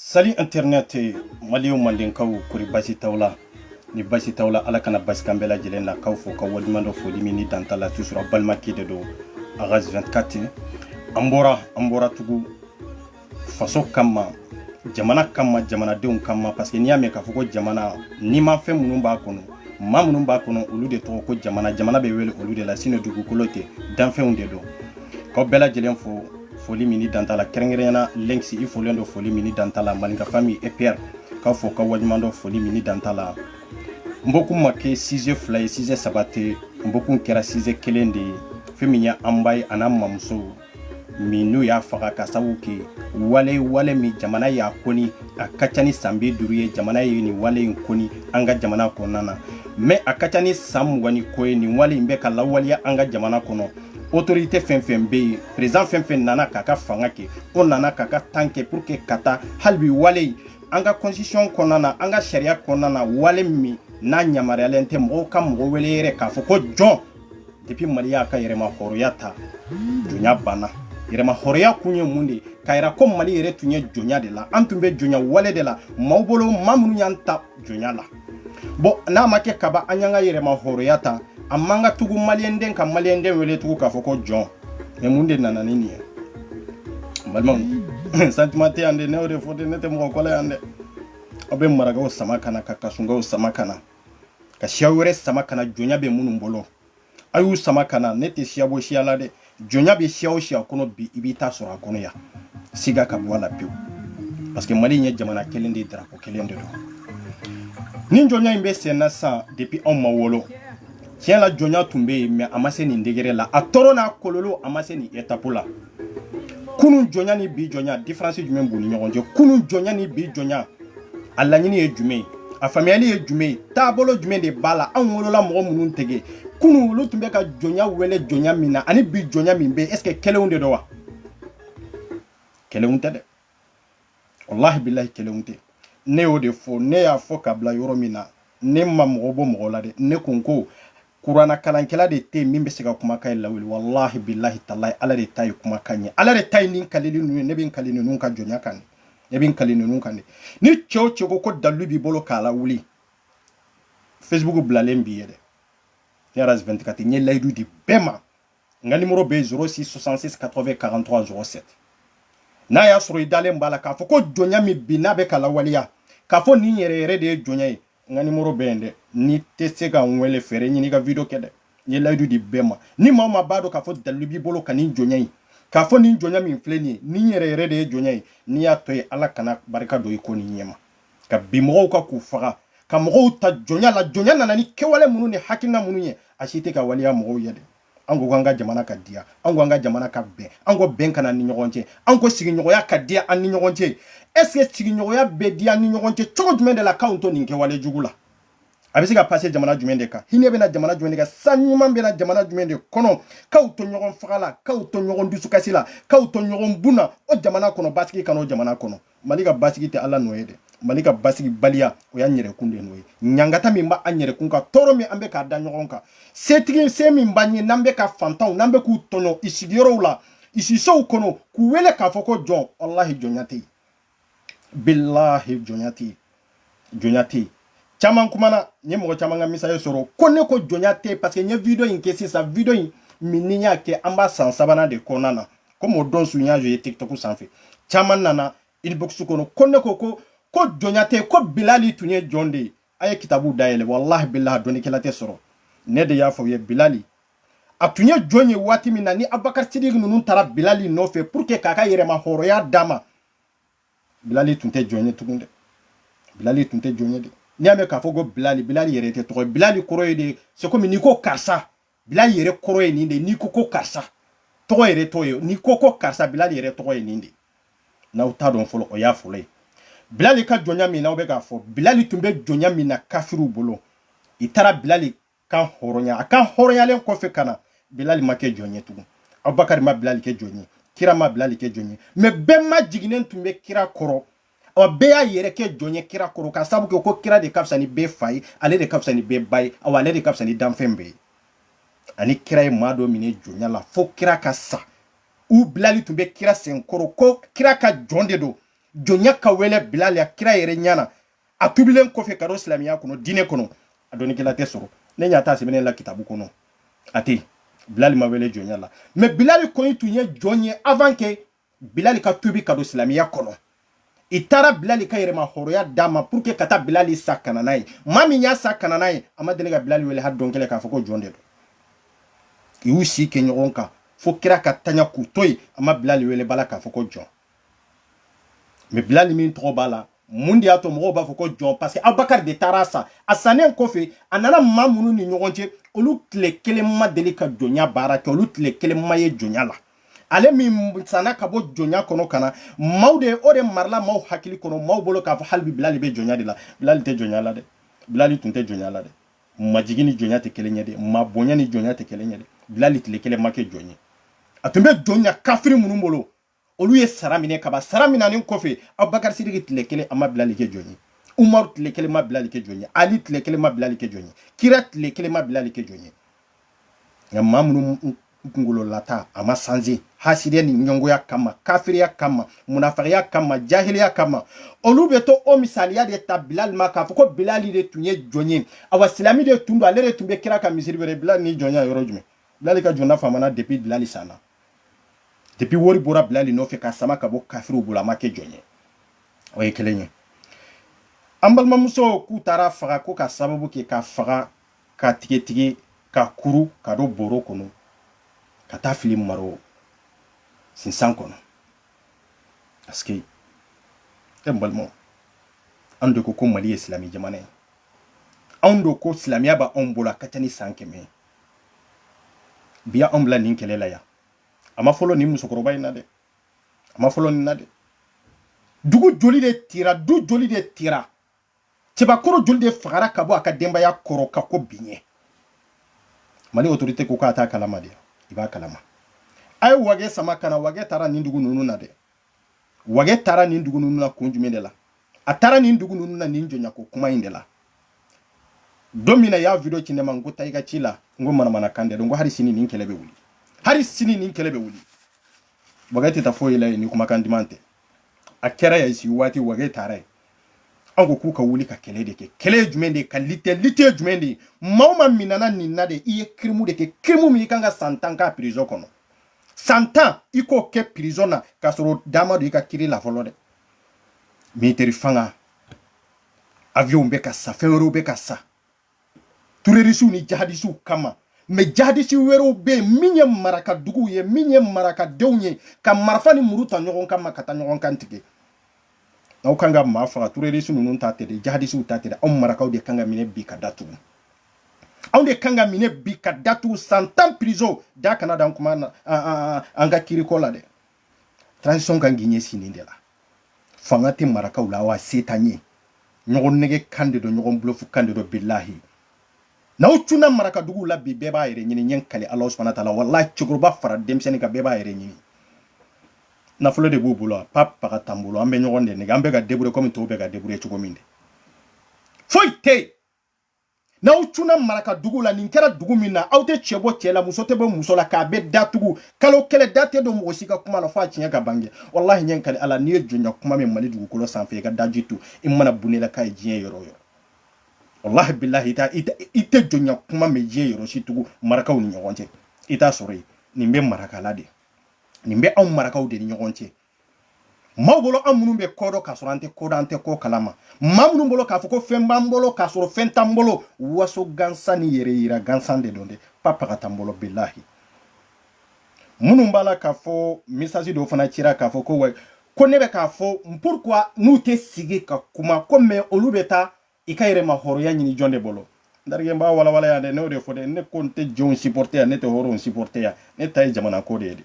salut internet maliw mandenkaw kori basi t'aw la ni basi t'aw la ala kana basi k'an bɛɛ lajɛlen na k'aw fo ka waleɲuman dɔn foli min ni dan t'a la toujours balimakɛ de don agas 24 an bɔra an bɔra tugu faso kama jamana kama jamanadenw kama parce que n'i y'a mɛn k'a fɔ ko jamana n'i ma fɛn minnu b'a kɔnɔ maa minnu b'a kɔnɔ olu de tɔgɔ ko jamana jamana bɛ wele olu de la sinon dugukolo tɛ danfɛnw de don k'aw bɛɛ lajɛlen fo foli min ni dan t'a la kɛrɛnkɛrɛnya la lenks i folen don foli min ni dan t'a la mali n ka famille epr k'aw fo ka waleɲuman dɔn foli min ni dan t'a la n bɔkun ma kɛ size fila ye size saba tɛ n bɔkun kɛra size kelen de ye fɛn min ye an ba ye an'an mamuso min n'u y'a faga k'a sabu kɛ wale wale min jamana y'a kɔn a ka ca ni san bi duuru ye jamana ye nin wale in kɔn an ka jamana kɔnɔna na mɛ a ka ca ni san mugan ni ko ye nin wale in bɛ ka lawaleya an ka jamana kɔnɔ otorite fɛn fɛn bɛ yen perezidan fɛn fɛn nana k'a ka fanga kɛ o nana k'a ka temps kɛ pour que ka taa hali bi wale in an ka constitution kɔnɔna na an ka sariya kɔnɔna na wale min n'a yamaruyalen tɛ mɔgɔ ka mɔgɔ wele yɛrɛ k'a fɔ ko jɔn depuis mali y'a ka yɛrɛmahɔrɔnya ta jɔnya banna yɛrɛmahɔrɔnya kun ye mun de ye k'a yira ko mali yɛrɛ tun ye jɔnya de la an tun bɛ jɔnya wale de la maaw bolo maa minnu y'an ta jɔnya la bon n'a ma kɛ kabi an y'an ka yɛrɛmahɔrɔnya ta a man kan tugu maliyɛnden ka maliyɛnden wele tugu k'a fɔ ko jɔn mɛ mun de nana ni nin ye balimaw sentiment tɛ yan dɛ ne y'o de fɔ dɛ ne tɛ mɔgɔ ko la yan dɛ aw bɛ marakaw sama ka na ka kasɔnkaw sama ka na ka siya wɛrɛ sama ka na jɔnya bɛ minnu bolo a y'u sama ka na ne tɛ siya bɔ siya la dɛ jɔnya bɛ siya o siya kɔnɔ bi i b'i ta sɔrɔ a kɔnɔ yan siga ka bɔ a la pewu parce que mali in ye jamana kelen de ye darapo kelen de don nin jɔnya in bɛ sen na sisan depuis anw ma wolo tiɲɛ la jɔnya tun bɛ yen mɛ a ma se nin degere la a tɔɔrɔ n'a kololo a ma se nin etapu la kunun jɔnya ni bi jɔnya diferansi jumɛn b'u ni ɲɔgɔn cɛ kunun jɔnya ni bi jɔnya a laɲini ye jumɛn ye a faamuyali ye jumɛn ye taabolo jumɛn de b'a la anw wolola mɔgɔ minnu tɛgɛ kunun olu tun bɛ ka jɔnya wele jɔnya min na ani bi jɔnya min bɛ est ce que kelenw de don wa kelenw tɛ dɛ walahi bilahi kelenw tɛ ne y'o de fɔ ne y'a fɔ ka bila yɔrɔ min na ne ma mɔgɔ bɔ mɔgɔ la dɛ ne ko n ko kurana kalankɛla de tɛ min bɛ se ka kumakan in lawuli walahi bilahi talahi ala de ta ye kumakan ye ala de ta ye nin kalili ninnu ye ne bɛ n kali ninnu ka jɔnya kan ne bɛ n kali ninnu kan de ni cɛ o cɛ ko ko dalilu b'i bolo k'a lawuli facebook bilalen b'i ye dɛ ne yɛrɛ agas 24 n ye layidu di bɛɛ ma n ka nimoro bɛ 06 66 80 43 07 n'a y'a sɔrɔ i dalen b'a la k'a fɔ ko jɔnya min bi n'a bɛ ka lawaleya k'a fɔ nin yɛrɛ yɛrɛ de ye jɔnya ye n ka nimoro bɛ yen dɛ n'i tɛ se ka n wele fɛɛrɛ ɲini ka video kɛ dɛ n ye layidu di bɛɛ ma ni maa o maa b'a dɔn k'a fɔ dalilu b'i bolo ka nin jɔnya ye k'a fɔ nin jɔnya min filɛ nin ye nin yɛrɛ yɛrɛ de ye jɔnya ye n'i y'a to yen ala kana barika don i ko nin ɲɛma ka bin mɔgɔw kan k'u faga ka mɔgɔw ta jɔnya la jɔnya nana ni kɛwale minnu ni hakilina minnu ye a si tɛ ka waleya mɔgɔw ye dɛ an ko k'an ka jamana ka diya an ko an ka jamana ka bɛn an ko bɛn ka na ni ɲɔgɔn cɛ an ko sigiɲɔgɔnya ka diya an ni ɲɔgɔn cɛ est ce que sigiɲɔgɔnya bɛ diya ni ɲɔgɔn cɛ cogo jumɛn de la k'anw to nin kɛwale jugu la a bɛ se ka pase jamana jumɛn de kan hinɛ bɛ na jamana jumɛn de kan san ɲuman bɛ na jamana jumɛn de kɔnɔ k'aw to ɲɔgɔn faga la k'aw to ɲɔgɔn dusukasi la k'aw to ɲɔgɔn bun na o jamana kɔnɔ basigi ka n'o jamana kɔnɔ mali ka basigi tɛ ala nɔ ye dɛ mali ka basigibaliya o y'an yɛrɛkun de nɔ ye ɲangata min b'an yɛrɛkun kan tɔɔrɔ min an bɛ k'a da ɲɔgɔn kan setigi se min b'an ye n'an bɛ ka fantanw n'an bɛ k'u tɔɲɔ i sigiyɔrɔw la i sisow kɔnɔ k'u wele k'a fɔ ko jɔn walahi jɔnya tɛ yen bilahi jɔnya tɛ yen jɔnya tɛ yen caman kumana n ye mɔgɔ caman ka message sɔrɔ ko ne ko jɔnya tɛ yen paseke n ye video in kɛ sisan video in min ni n y'a kɛ an b'a san sabanan de kɔnɔna na komi o don su n y'a ye tiktok sanfɛ caman nana inbox kɔnɔ ko ne ko ko ko jɔnya tɛ yen ko bilali tun ye jɔn de ye a ye kitabu dayɛlɛ walahi bilahi dɔnnikɛla tɛ sɔrɔ ne de y'a fɔ u ye bilali a tun ye jɔn ye waati min na ni abubakar sidiki ninnu taara bilali nɔfɛ pour que k'a ka yɛrɛmahɔrɔnya d'a ma bilali tun tɛ jɔn ye tugun dɛ bilali tun tɛ jɔn ye dɛ n'i y'a mɛn k'a fɔ ko bilali bilali yɛrɛ tɛ tɔgɔ ye bilali kɔrɔ ye de c'est comme n'i ko karisa bilali yɛrɛ kɔrɔ ye nin de n'i ko ko karisa tɔgɔ yɛrɛ t'o ye n'i ko ko karisa bilali yɛrɛ tɔgɔ ye nin de n'aw t'a dɔn fɔlɔ o y'a fɔlɔ ye bilali ka jɔnya min n'aw bɛ k'a fɔ bilali tun bɛ jɔnya min na kafiriw bolo i taara bilali kanhɔrɔnya a kanhɔrɔnyalen kɔfɛ ka na bilali ma kɛ jɔn ye tugun abubakari ma bilali kɛ jɔn ye kira ma bilali kɛ jɔn ye mɛ bɛɛ majiginnen tun bɛ kira kɔrɔ ɔ bɛɛ y'a yɛrɛ kɛ jɔn ye kira kɔrɔ ka sabu kɛ ko kira de ka fisa ni bɛɛ fa ye ale de ka fisa ni bɛɛ ba ye awa ale de ka fisa ni danfɛn bɛɛ ye ani kira ye maa dɔ minɛ jɔnya la fo kira ka sa u bilali tun bɛ kira senkɔrɔ ko kira ka jɔn de don jɔnya ka wele bilali a kira yɛrɛ ɲana a tubilen kɔfɛ ka don silamɛya kɔnɔ diinɛ kɔnɔ a dɔnnikɛla tɛ sɔrɔ ne ɲa t'a sɛbɛnnen la kitabu kɔnɔ a tɛ bilali ma wele jɔnya la mɛ bilali kɔni tun ye jɔn ye avant ke bilali ka tubi ka don silamɛya kɔnɔ i taara bilali ka yɛrɛmahɔrɔya d'a ma pour que ka taa bilali san ka na n'a ye maa min y'a san ka na n'a ye a ma deli ka bilali wele hali don kelen k'a fɔ ko jɔn de don i y'u si kɛ ɲɔgɔn kan fo kira ka taɲa k'u to yen a ma bilali wele abada k'a fɔ ko jɔn mais bilali min tɔgɔ b'a la mun de y'a to mɔgɔw b'a fɔ ko jɔn parce que abubakari de taara a san a sannen kɔfɛ a nana maa minnu ni ɲɔgɔn cɛ olu tile kelen ma deli ka jɔnya baara kɛ olu tile kelen ma ye jɔnya la ale min sanna ka bɔ jɔnya kɔnɔ ka na maaw de o de marala maaw hakili kɔnɔ maaw bolo k'a fɔ hali bi bilali bɛ jɔnya de la bilali tɛ jɔnya la dɛ bilali tun tɛ jɔnya la dɛ majigi ni jɔnya tɛ kelen ye dɛ maa bonya ni jɔnya tɛ kelen ye dɛ bilali tile kelen ma kɛ jɔn ye a tun bɛ jɔnya kafiri minnu bolo olu ye sara minɛ ka ban sara minanen kɔfɛ abubakar sidiki tile kelen a ma bilali kɛ jɔn ye umaru tile kelen ma bilali kɛ jɔn ye ali tile kelen ma bilali kɛ jɔn ye kira tile kelen ma bilali kɛ jɔn ye nka maa minnu kunkolo la ta a ma sanze hasidiya ni ɲɛngoya kama kafiriya kama munafikiya kama jahiliya kama olu bɛ to o misaliya de ta bilali ma k'a fɔ ko bilali de tun ye jɔn ye awa silami de tun don ale de tun bɛ kira ka misiri wele bilali ni jɔnya yɔrɔ jumɛn bilali ka jɔnya famana depuis bilali sanna depuis wari bɔra bilali nɔfɛ k'a sama ka bɔ kafiriw bolo a ma kɛ jɔn ye o ye kelen ye an balimamuso k'u taara faga ko ka sababu kɛ k'a faga k'a tigɛtigɛ k'a kuru k'a don bɔrɔ kɔnɔ ka taa a fili maro sinsan kɔnɔ parce que e balimaw an de ko ko mali ye silamɛ jamana ye anw de ko silamɛya b'anw bolo a ka ca ni san kɛmɛ ye bi ya anw bila nin kɛlɛ la yan a ma fɔlɔ nin musokɔrɔba in na dɛ a ma fɔlɔ nin na dɛ dugu joli de tira du joli de tira cɛbakɔrɔ joli de fagara ka bɔ a ka denbaya kɔrɔ ka ko biɲɛ mali autorité ko k'a t'a kalama de i b'a kalama a ye wage sama ka na wage taara nin dugu ninnu na dɛ wagɛ taara nin dugu ninnu na kun jumɛn de la a taara nin dugu ninnu na nin jɔnyako kuma in de la don min na y'a video ci ne ma n ko taa i ka ci la n ko manamana kan dɛ n ko hali sini nin kɛlɛ bɛ wuli hali sini nin kɛlɛ bɛ wuli wagɛ tɛ taa foyi la yen ni kumakan duman tɛ a kɛra ya sigi waati wagɛ taara yen an ko k'u ka wuli ka kɛlɛ de kɛ kɛlɛ ye jumɛn de ye ka lutter lutte ye jumɛn de ye maa o maa minana nin na de i ye kirimu de kɛ kirimu min i kan ka san tan k'a prison kɔnɔ san tan i k'o kɛ prison na k'a sɔrɔ u da ma don i ka kiri la fɔlɔ dɛ militaire fanga avion bɛ ka san fɛn wɛrɛw bɛ ka san tɛrɔrisiw ni jihadisiw kama mais jihadisi wɛrɛw bɛ yen min ye maraka duguw ye min ye marakadenw ye ka marifa ni muru ta ɲɔgɔn kama ka taa ɲɔgɔn kan tigɛ aw kan ka maa faga tɛrɔrisi ninnu ta tɛ dɛ jihadisiw ta tɛ dɛ aw marakaw de kan ka minɛ bi ka datugu anw de kan ka minɛ bi ka datugu san tan prison da kana dan kuma na an ka kiriko la dɛ transition kan k'i ɲɛsin nin de la fanga tɛ marakaw la wa se t'an ye ɲɔgɔn nɛgɛn kan de don ɲɔgɔn bulɔfu kan de don bilahi n'aw cunna marakaduguw la bi bɛɛ b'a yɛrɛ ɲini n ye kali ala subahana taala walahi cɛkɔrɔba fara denmisɛnnin kan bɛɛ b'a yɛrɛ ɲini nafolo de b'u bolo pa paga t'an bolo an bɛ ɲɔgɔn de nɛgɛn an bɛ ka débrouiller kɔmi tɔw bɛ ka débrouiller cogo min de foyi tɛ yen n'aw cunna maraka dugu la nin kɛra dugu min na aw tɛ cɛ bɔ cɛ la muso tɛ bɔ muso la k'a bɛɛ datugu kalo kelen da tɛ don mɔgɔ si ka kuma la fo a tiɲɛ ka bange walahi n ye kali ala n'i ye jɔnya kuma mɛn mali dugukolo sanfɛ i ka daji to i mana bunne la k'a ye diɲɛ yɔrɔ o yɔrɔ walahi bilahi i tɛ jɔnya kuma mɛn diɲɛ yɔrɔ si tugun marakaw ni ɲɔgɔn cɛ i t'a sɔrɔ yen nin bɛ marakala de nin bɛ anw marakaw de ni ɲɔgɔn cɛ maaw bolo an minnu bɛ ko dɔn k'a sɔrɔ an tɛ ko dɔn an tɛ ko kalama maa minnu bolo k'a fɔ ko fɛn b'an bolo k'a sɔrɔ fɛn t'an bolo waso gansan ni yɛrɛ yira gansan de don dɛ pa paga t'an bolo bilahi minnu b'a la k'a fɔ message dɔw fana cira k'a fɔ ko wa ko ne bɛ k'a fɔ pourquoi n'u tɛ sigi ka kuma ko mɛ olu bɛ taa i ka yɛrɛma hɔrɔnya ɲini jɔn de bolo tariki n b'a walawala yan dɛ ne y'o de fɔ dɛ ne ko n tɛ jɔnw supporter yan ne tɛ hɔrɔnw supporter yan ne ta ye jamana ko de ye dɛ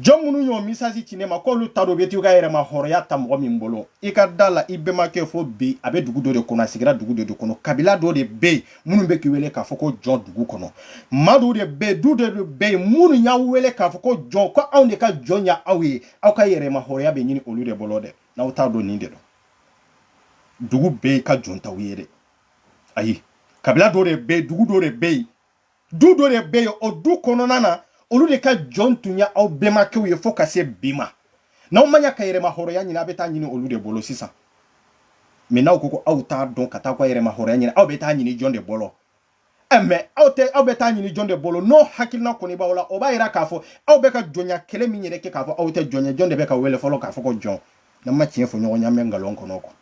jɔn minnu y'o message ci ne ma k'olu t'a dɔn u bɛ t'u ka yɛrɛma hɔrɔnya ta mɔgɔ min bolo i ka da la i bɛnbakɛ fo bi a bɛ dugu dɔ de kɔnɔ a sigira dugu dɔ de kɔnɔ kabila dɔ de bɛ yen minnu bɛ k'i wele k'a fɔ ko jɔn dugu kɔnɔ maa dɔw de bɛ yen du dɔ de bɛ yen minnu y'aw wele k'a fɔ ko jɔn ko anw de ka jɔn ye aw ye aw ka yɛrɛma hɔrɔnya bɛ ɲini olu de bolo dɛ n'aw t'a dɔn nin de don dugu bɛɛ ka jɔn t'aw ye dɛ ayi kabila dɔ de bɛ yen dugu dɔ de bɛ yen du dɔ de bɛ yen o du kɔnɔna na olu de ka jɔn tun ye aw bɛnbakɛw ye fo ka se bi ma n'aw ma ɲa ka yɛrɛma hɔrɔnya ɲini aw bɛ taa ɲini olu de bolo sisan mɛ n'aw ko ko aw t'a dɔn ka taa aw ka yɛrɛma hɔrɔnya ɲini aw bɛ taa ɲini jɔn de bolo Eh, mɛ aw tɛ aw bɛ taa ɲini jɔn de bolo n'o hakilina kɔni b'aw la o b'a yira k'a fɔ aw bɛ ka jɔnya kɛlɛ min yɛrɛ kɛ k'a fɔ aw tɛ jɔn ye jɔn de bɛ k'aw wele fɔlɔ k'a fɔ ko jɔn n'an ma tiɲɛ fɔ ɲɔgɔn ye an bɛ nkalon kɔnɔ quoi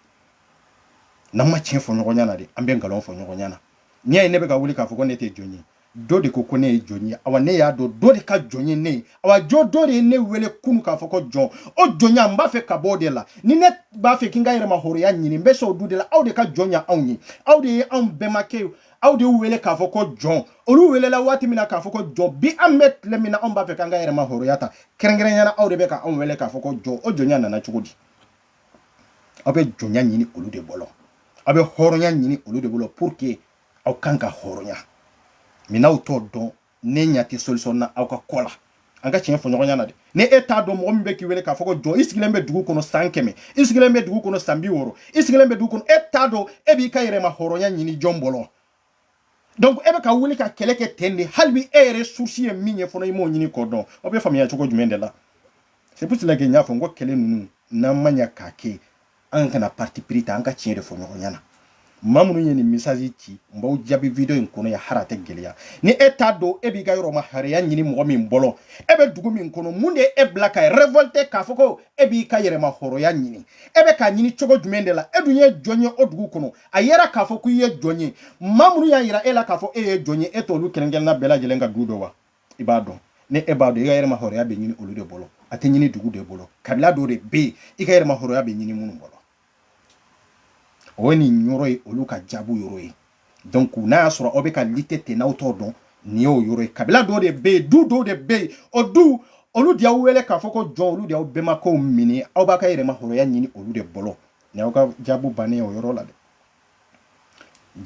n'an ma tiɲɛ fɔ ɲɔgɔn ɲɛna de an bɛ nkalon fɔ ɲɔgɔn ɲɛna n'i y'a ye ne bɛ ka wuli k'a fɔ ko ne tɛ jɔn ye dɔ de ko ko ne ye jɔn ye awa ne y'a dɔn dɔ de ka jɔn ye ne ye awa jɔ dɔ de ye ne wele kunu k'a fɔ ko jɔn o jɔnya n b'a fɛ ka bɔ o de la ni ne b'a fɛ k'i ka yɛrɛma hɔrɔnya ɲini n bɛ sɔn o du de la aw de ka jɔn ye anw ye aw de ye anw bɛnbakɛ ye aw de y'u wele k'a fɔ ko jɔn olu welela waati min na k'a fɔ ko jɔn bi an bɛ tile min na anw b'a fɛ k'an ka yɛrɛma hɔrɔnya ta kɛrɛnkɛrɛnya na aw de bɛ ka anw wele k'a fɔ ko jɔn o jɔnya nana cogo di aw bɛ jɔnya ɲini olu de bolo aw bɛ hɔrɔnya ɲini olu de bolo pour que aw kan ka hɔrɔnya mɛ n'aw t'o dɔn ne ɲɛ tɛ solution na aw ka ko la an ka tiɲɛ fɔ ɲɔgɔn ɲɛna dɛ ni e t'a dɔn mɔgɔ min bɛ k'i wele k'a fɔ ko jɔn i sigilen bɛ dugu kɔnɔ san kɛmɛ i sigilen bɛ dugu kɔnɔ san bi wɔɔrɔ i sigilen bɛ dugu kɔnɔ e t'a dɔn e b'i ka yɛrɛma hɔrɔnya ɲini jɔn bolo donc e bɛ ka wuli ka kɛlɛ kɛ ten de hali bi e yɛrɛ souci ye min ye fɔlɔ i m'o ɲini k'o dɔn aw bɛ faamuya cogo jumɛn de la c'est pour cela que n y'a fɔ n ko kɛlɛ ninnu n'an ma ɲa k'a kɛ an kana parti pris ta an ka tiɲɛ de fɔ ɲɔgɔn ɲɛna maa minnu ye nin message ci n b'aw jaabi video in kɔnɔ yan hali a tɛ gɛlɛya ni e t'a dɔn e b'i ka yɛrɛma hɔrɔnya ɲini mɔgɔ min bolo e bɛ dugu min kɔnɔ mun de ye e bila ka révolter k'a fɔ ko e b'i ka yɛrɛma hɔrɔnya ɲini e bɛ k'a ɲini cogo jumɛn de la e dun ye jɔn ye o dugu kɔnɔ a yera k'a fɔ ko i ye jɔn ye maa minnu y'a yira e la k'a fɔ e ye jɔn ye e t'olu kelen-kelenna bɛɛ lajɛlen ka du dɔn wa i b'a dɔn ni e b'a dɔn i ka yɛrɛma hɔrɔnya bɛ ɲini olu de bolo a tɛ ɲini dugu de bolo kabila dɔw de bɛ yen i ka yɛrɛma hɔrɔnya bɛ ɲini minnu bolo o ye nin yɔrɔ ye olu ka jaabu yɔrɔ ye donc n'a y'a sɔrɔ aw bɛ ka lutter ten n'aw t'o dɔn nin y'o yɔrɔ ye kabila dɔw de bɛ yen du dɔw de bɛ yen o du olu de y'aw wele k'a fɔ ko jɔn olu de y'aw bɛnbakɛw minɛ aw b'a ka yɛrɛma hɔrɔnya ɲini olu de bolo nin y'aw ka jaabu bannen ye o yɔrɔ la dɛ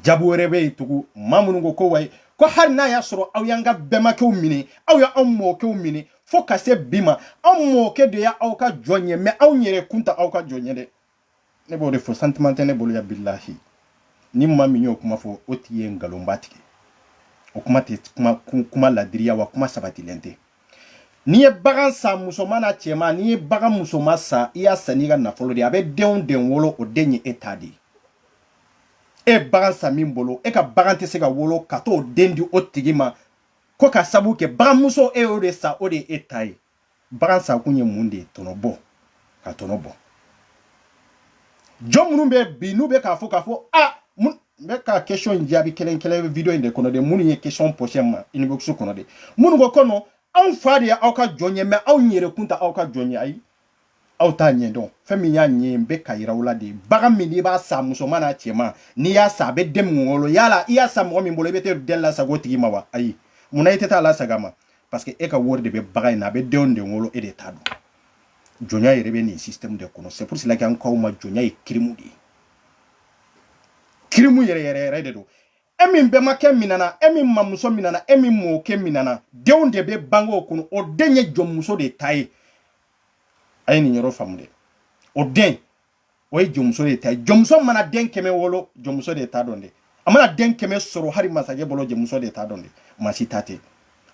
jaabu wɛrɛ bɛ yen tugun maa minnu ko ko wayi ko hali n'a y'a sɔrɔ aw y'an ka bɛnbakɛw minɛ aw y'anw mɔkɛw minɛ fo ka se bi ma anw mɔkɛ de ye aw ka jɔn ye mais anw yɛrɛ kun tɛ aw ka jɔn ye dɛ ne b'o de fɔ sentiment tɛ ne bolo ya bilahi ni maa min y'o kuma fɔ o tigi ye nkalonba tigɛ o kuma tɛ kuma ladiri ye wa kuma sabatilen tɛ n'i ye bagan san musoman n'a cɛman n'i ye bagan musoman san i y'a san n'i ka nafolo de a bɛ den o den wolo o den ye e ta de ye e bagan san min bolo e ka bagan tɛ se ka wolo ka t'o den di o tigi ma ko k'a sabu kɛ baganmuso e y'o de san o de ye e ta ye bagan san kun ye mun de ye tɔnɔ bɔ ka tɔnɔ bɔ jɔn minnu bɛ bi n'u bɛ k'a fɔ k'a fɔ a n bɛ ka question in jaabi kelen-kelen video in de kɔnɔ de minnu ye question poser ma inbox kɔnɔ de minnu ko ko non anw fa de ye aw ka jɔn ye mais anw yɛrɛ kun tɛ aw ka jɔn ye ayi aw t'a ɲɛ dɔn fɛn min y'a ɲɛ n bɛ k'a yira aw la de bagan min n'i b'a san musoman n'a cɛman n'i y'a san a bɛ den min wolo yala i y'a san mɔgɔ min bolo i bɛ taa den lasago o tigi ma wa ayi munna i tɛ taa lasago a ma parce que e ka wari de bɛ bagan in na a bɛ den o den wolo e de ta don jɔnya yɛrɛ bɛ nin système de kɔnɔ c'est pour cela que an k'aw ma jɔnya ye kirimu de ye kirimu yɛrɛ yɛrɛ yɛrɛ de don e min bɛmakɛ minana e min mamuso minana e min mɔkɛ minana den o den bɛ bange o kɔnɔ o den ye jɔnmuso de ta ye a ye nin yɔrɔ faamu dɛ o den o ye jɔnmuso de ta ye jɔnmuso mana den kɛmɛ wolo jɔnmuso de ta don dɛ a mana den kɛmɛ sɔrɔ hali masakɛ bolo jɔnmuso de ta don dɛ maa si ta tɛ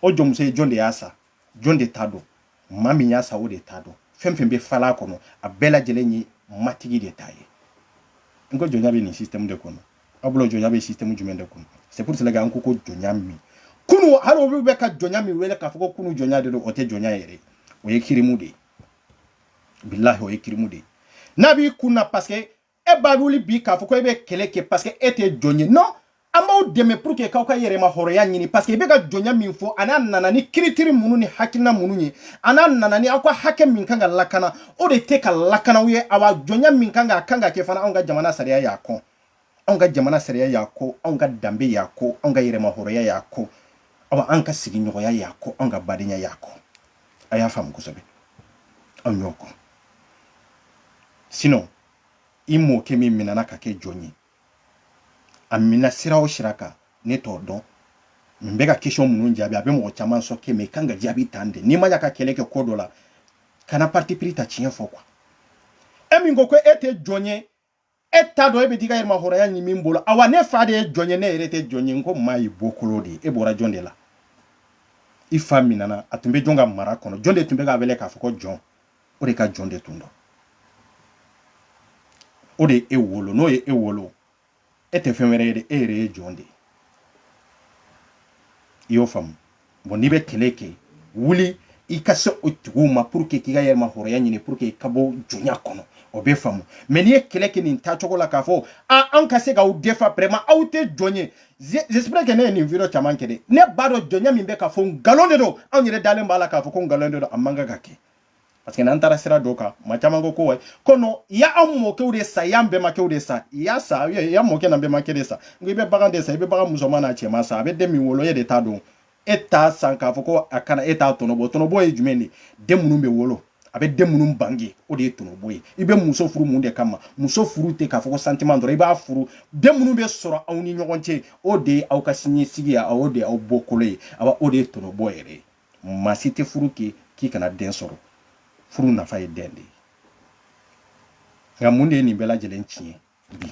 o jɔnmuso ye jɔn de y'a san jɔn de ta don maa min y'a sa o de ta don fɛn fɛn bɛ fala kɔnɔ a bɛɛ lajɛlen ye matigi de ta ye n ko jɔnya bɛ nin système de kɔnɔ aw bolo jɔnya bɛ système jumɛn de kɔnɔ c'est pour cela que an ko ko jɔnya min kunu hali olu bɛ ka jɔnya min wele k'a fɔ ko kunu jɔnya de don o tɛ jɔnya yɛrɛ o ye kirimu de ye billahi o ye kirimu de ye n'a b'i kun na parce que e b'a wuli bi k'a fɔ ko e bɛ kɛlɛ kɛ parce que e tɛ jɔn ye non an b'aw dɛmɛ pour que k'aw ka yɛrɛma hɔrɔnya ɲini parce que i bɛ ka jɔnya min fɔ ani a nana ni critère minnu ni hakilina minnu ye ani a nana ni aw ka hakɛ min kan ka lakana o de tɛ ka lakana aw ye awa jɔnya min kan ka kan ka kɛ fana anw ka jamana sariya y'a kɔn anw ka jamana sariya y'a kɔn anw ka danbe y'a kɔn anw ka yɛrɛma hɔrɔnya y'a kɔn awa an ka sigiɲɔgɔnya y'a kɔn anw ka badenya y'a kɔn a y'a faamu kosɛbɛ anw y'o kɔn sinon i mɔkɛ min minɛna ka kɛ jɔn ye a minɛ sira o sira kan ne t'o dɔn n bɛ ka question minnu jaabi a bɛ mɔgɔ caman choquer mais i kan ka jaabi tan de n'i ma ya ka kɛlɛ kɛ ko dɔ la kana parti pris ta tiɲɛ fɔ quoi e min ko ko e tɛ jɔn ye e t'a dɔn e bɛ t'i ka yɛrɛmahɔrɔnya ɲini min bolo awa ne fa de ye jɔn ye ne yɛrɛ tɛ jɔn ye n ko maa y'i bɔkolo de ye e bɔra jɔn de la i fa minɛna a tun bɛ jɔn ka mara kɔnɔ jɔn de tun bɛ k'a wele k'a fɔ ko jɔn o de ka jɔn de tun don o de ye e wolo n'o ye e wolo e tɛ fɛn wɛrɛ ye dɛ e yɛrɛ ye jɔn de ye i y'o faamu bon n'i bɛ kɛlɛ kɛ wuli i ka se o tigiw ma pour que k'i ka yɛrɛma hɔrɔnya ɲini pour que ka bɔ jɔnya kɔnɔ o bɛ faamu mais n'i ye kɛlɛ kɛ nin taacogo la k'a fɔ a anw ka se k'aw défendre vraiment aw tɛ jɔn ye j'espère que ne ye nin vidéo caman kɛ dɛ ne b'a dɔn jɔnya min bɛ ka fɔ nkalon de don anw yɛrɛ dalen b'a la k'a fɔ ko nkalon de don a man kan ka kɛ parce que n'an taara sira dɔ kan maa caman ko ko wayi ko non i y'an mɔkɛw de sa i y'an bɛnbakɛw de sa i y'a sa i y'an mɔkɛ n'an bɛnbakɛ de sa n ko i bɛ bagan de sa i bɛ bagan musoman n'a cɛman sa a bɛ den min wolo e de ta don e t'a san k'a fɔ ko a kana e t'a tɔnɔbɔ tɔnɔbɔ ye jumɛn de ye den minnu bɛ wolo a bɛ den minnu bange o de ye tɔnɔbɔ ye i bɛ muso furu mun de kama muso furu tɛ k'a fɔ ko sentiment dɔrɔn i b'a furu den minnu bɛ sɔrɔ aw ni ɲɔgɔn cɛ o de ye aw ka siniɲɛsigi ye o de ye aw bɔkolo ye awa o de ye tɔnɔbɔ yɛrɛ ye maa si tɛ furu kɛ k'i kana den sɔrɔ furu nafa ye den de ye nka mun de ye nin bɛɛ lajɛlen tiɲɛ bi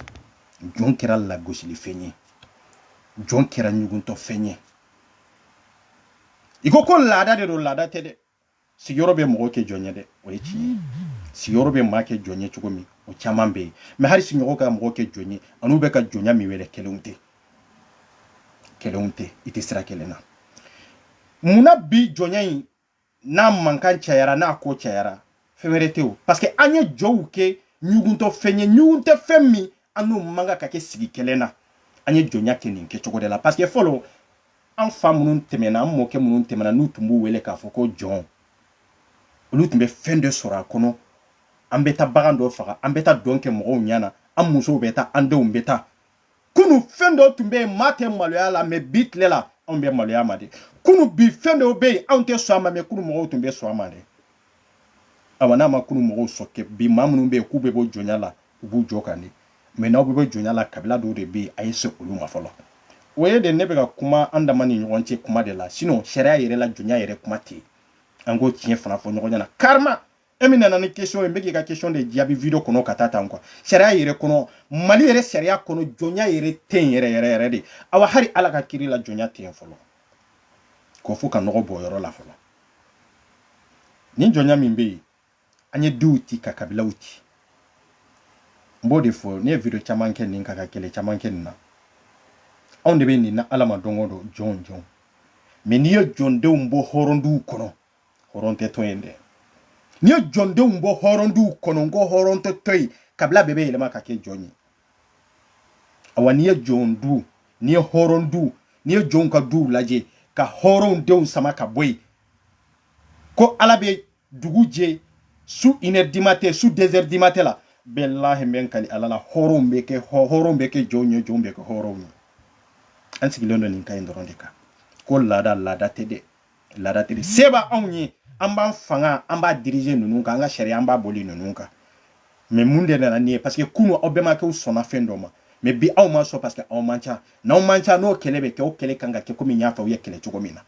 jɔn kɛra lagosilifɛn ye jɔn kɛra ɲuguntɔfɛn ye i ko ko laada de don laada tɛ dɛ sigiyɔrɔ bɛ mɔgɔ kɛ jɔn ye dɛ o ye tiɲɛ ye sigiyɔrɔ bɛ maa kɛ jɔn ye cogo min o caman bɛ yen mais hali sigiɲɔgɔn ka mɔgɔ kɛ jɔn ye a n'u bɛ ka jɔnya min wele kelen tɛ kɛlɛw tɛ i tɛ sira kelen na munna bi jɔnya in n'a mankan cayara n'a ko cayara fɛn wɛrɛ tɛ o parce que an ye jɔw kɛ ɲuguntɔ fɛn ye ɲugun tɛ fɛn min an n'o man kan ka kɛ sigi kelen na an ye jɔnya kɛ nin kɛcogo de la parce que fɔlɔ an fa minnu tɛmɛna an mɔkɛ minnu tɛmɛna n'u tun b'u wele k'a fɔ ko jɔn olu tun bɛ fɛn dɔ sɔrɔ a kɔnɔ an bɛ taa bagan dɔ faga an bɛ taa dɔn kɛ mɔgɔw ɲɛna an musow bɛ taa an denw bɛ taa kunu fɛn dɔ tun bɛ yen maa tɛ maloya la mais bi tile la anw bɛ maloya ma de kunu bi fɛn dɔw bɛ yen anw tɛ sɔn a ma mais kunu mɔgɔw tun bɛ sɔn a ma de awa n'a ma kunu mɔgɔw choquer bi maa minnu bɛ yen k'u bɛ bɔ jɔnya la u b'u jɔ kan de mais n'aw bɛ bɔ jɔnya la kabila dɔw de bɛ yen a ye se olu ma fɔlɔ o ye de ne bɛ ka kuma an dama ni ɲɔgɔn cɛ kuma de la sinon sariya yɛrɛ la jɔnya yɛrɛ kuma tɛ yen an k'o tiɲɛ fana fɔ ɲɔgɔn ɲɛna carrément e min nana ni question ye n bɛ k'i ka question de jaabi video kɔnɔ ka taa tan quoi sariya yɛrɛ kɔnɔ mali yɛrɛ sariya kɔnɔ jɔnya yɛrɛ tɛ yen yɛrɛ yɛrɛ yɛrɛ de awa hali ala ka kiri la jɔnya tɛ yen fɔlɔ ko fo ka nɔgɔ bɔ yɔrɔ la fɔlɔ nin jɔnya min bɛ yen an ye duw ci ka kabilaw ci n b'o de fɔ ne ye video caman kɛ nin kan ka kɛlɛ caman kɛ nin na anw de bɛ nin na ala ma don o don jɔn jɔn mais n'i ye jɔndenw bɔ hɔrɔnduw kɔnɔ hɔrɔn tɛ to yen dɛ n'i ye jɔndenw bɔ hɔrɔnduw kɔnɔ n ko hɔrɔn tɛ to yen kabila bɛɛ bɛ yɛlɛma ka kɛ jɔn ye awa n'i ye jɔn du n'i ye hɔrɔn du n'i ye jɔnw ka duw lajɛ ka hɔrɔnw denw sama ka bɔ yen ko ala bɛ dugu jɛ su une heure du matin su deux heures du matin la bilahi n bɛ kali ala la hɔrɔnw bɛ kɛ hɔrɔnw bɛ kɛ jɔnw ye jɔnw bɛ kɛ hɔrɔnw ye an sigilen don nin kan in dɔrɔn de kan ko laada laada tɛ dɛ laada tɛ dɛ mm-hmm. se b'anw ye an b'an fanga an b'a diriger ninnu kan an ka sariya an b'a boli ninnu kan mais mun de nana ni ye parce que kunu aw bɛmakɛw sɔnna fɛn dɔ ma mais bi aw ma sɔn parce que aw man ca n'aw man ca n'o kɛlɛ bɛ kɛ o kɛlɛ kan ka kɛ komi n y'a fɔ aw ye kɛlɛ cogo min na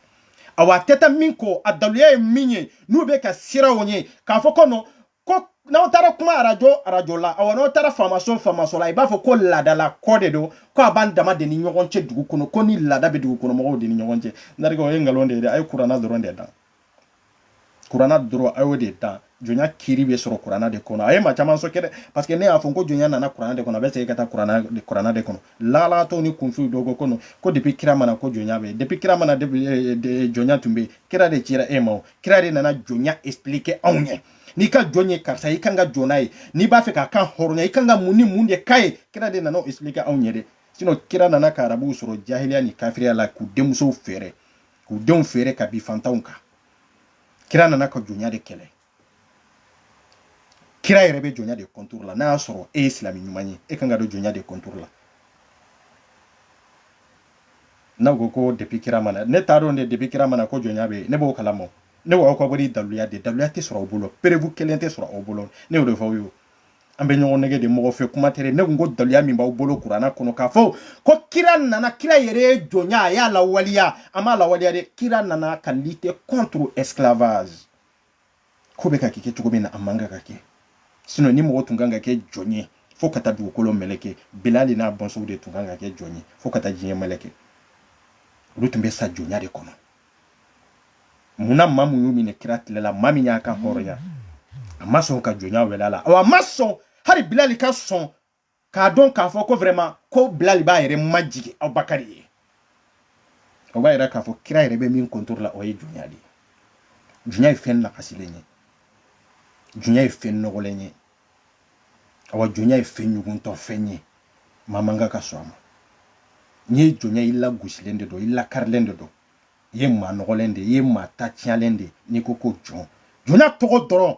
awa a tɛ taa min kɔ a daluya ye min ye n'u bɛ ka siraw ye k'a fɔ ko non ko n'aw taara kuma arajo arajo la awɔ n'aw taara faamaso faamaso la i b'a fɔ ko laadalako de don ko a b'an dama de ni ɲɔgɔn cɛ dugu kɔnɔ ko nin laada bɛ dugu kɔnɔ mɔgɔw de ni ɲɔgɔn cɛ narikɛ o ye nkalon de ye dɛ a ye kuranna dɔrɔn de dan kuranna dɔrɔn a y'o de dan jɔnya kiri bɛ sɔrɔ kuranna de kɔnɔ a ye maa caman choquer dɛ parce que ne y'a fɔ ko jɔnya nana kuranna de kɔnɔ a bɛ segin ka taa kuranna de kɔnɔ lalatɔ ni kunfin dɔ ko kɔnɔ ko depuis kira ma na ko jɔnya bɛ yen depuis kira ma na eh, eh, jɔnya tun bɛ yen kira de cira e ma kira de nana jɔnya expliquer anw ɲɛ n'i ka jɔn ye karisa i kan ka jɔn n'a ye n'i b'a fɛ k'a kan hɔrɔnya i kan ka mun ni mun de k'a ye kira de nana o expliquer anw ɲɛ dɛ sinon kira nana ka arabuw sɔrɔ jahiliya ni kafiriya la k'u denmusow feere k'u denw feere ka bin fantanw kan kira nana ka jɔnya de kɛlɛ kira yɛrɛ bɛ jɔnya de contre la n'a y'a sɔrɔ e ye silamɛ ɲuman ye e kan ka don jɔnya de contre la n'aw ko ko depuis kira ma na ne t'a dɔn dɛ depuis kira ma na ko jɔnya bɛ yen ne b'o kalama ne b'aw ka wari daluya de daluya tɛ sɔrɔ aw bolo preuve kelen tɛ sɔrɔ aw bolo ne y'o de fɔ aw ye an bɛ ɲɔgɔn nɛgɛn de mɔgɔ fɛ kuma tɛ ne ko ko daluya min b'aw bolo kuranna kɔnɔ k'a fɔ ko kira nana kira yɛrɛ ye jɔnya a y'a lawaleya a m'a lawaleya dɛ kira nana ka lutter contre esclavage ko bɛ ka kɛ cogo min na a man kan ka kɛ sinon ni mɔgɔ tun kan ka kɛ jɔn ye fo ka taa dugukolo mɛlɛkɛ bilali n'a bɔnsɔnw de tun kan ka kɛ jɔn ye fo ka taa diɲɛ mɛlɛkɛ olu tun bɛ sa jɔnya de kɔnɔ mun na maa min y'u minɛ kira tile la maa min y'a kanhɔrɔnya a ma sɔn ka jɔnya wele a la a ma sɔn hali bilali ka sɔn k'a dɔn k'a fɔ ko vraiment ko bilali b'a yɛrɛ majigin abubakari ye o b'a yira k'a fɔ kira yɛrɛ bɛ min contre la o ye jɔnya de ye jɔnya ye fɛn lagosilen ye jɔnya ye fɛn nɔgɔlen ye awa jɔnya ye fɛn ɲuguntɔ fɛn ye maa man kan ka sɔn a ma n'i ye jɔn ye i lagosilen de don i lakarilen de don i ye maa nɔgɔlen de ye i ye maa ta tiɲɛlen de n'i ko ko jɔn jɔnya tɔgɔ dɔrɔn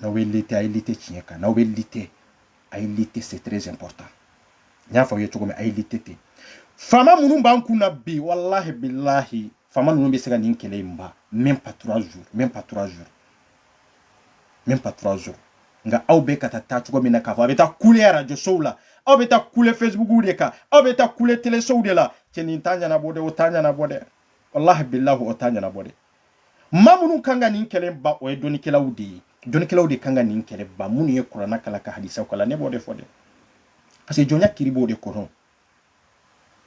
n'aw bɛ lutter a ye lutter tiɲɛ kan n'aw bɛ lutter a ye lutter c'est très important n y'a fɔ aw ye cogo min a ye lutter ten faama minnu b'an kun na bi walahi bilahi faama ninnu bɛ se ka nin kɛlɛ in ban même pas trois jours même pas trois jours même pas trois jours nka aw bɛ ka taa taa cogo min na k'a fɔ a bɛ taa kule arajo sow la aw bɛ taa kule fesibukuw de kan aw bɛ taa kule telesow de la cɛ nin t'a ɲɛnabɔ dɛ o t'a ɲɛnabɔ dɛ walahi bilahi o t'a ɲɛnabɔ dɛ maa minnu kan ka nin kɛlɛ ban o ye dɔnnikɛlaw de ye dɔnnikɛlaw de kan ka nin kɛlɛ ban minnu ye kuranna kalan ka hadisaw kalan ne b'o de fɔ dɛ parce que jɔnya kiri b'o de kɔnɔ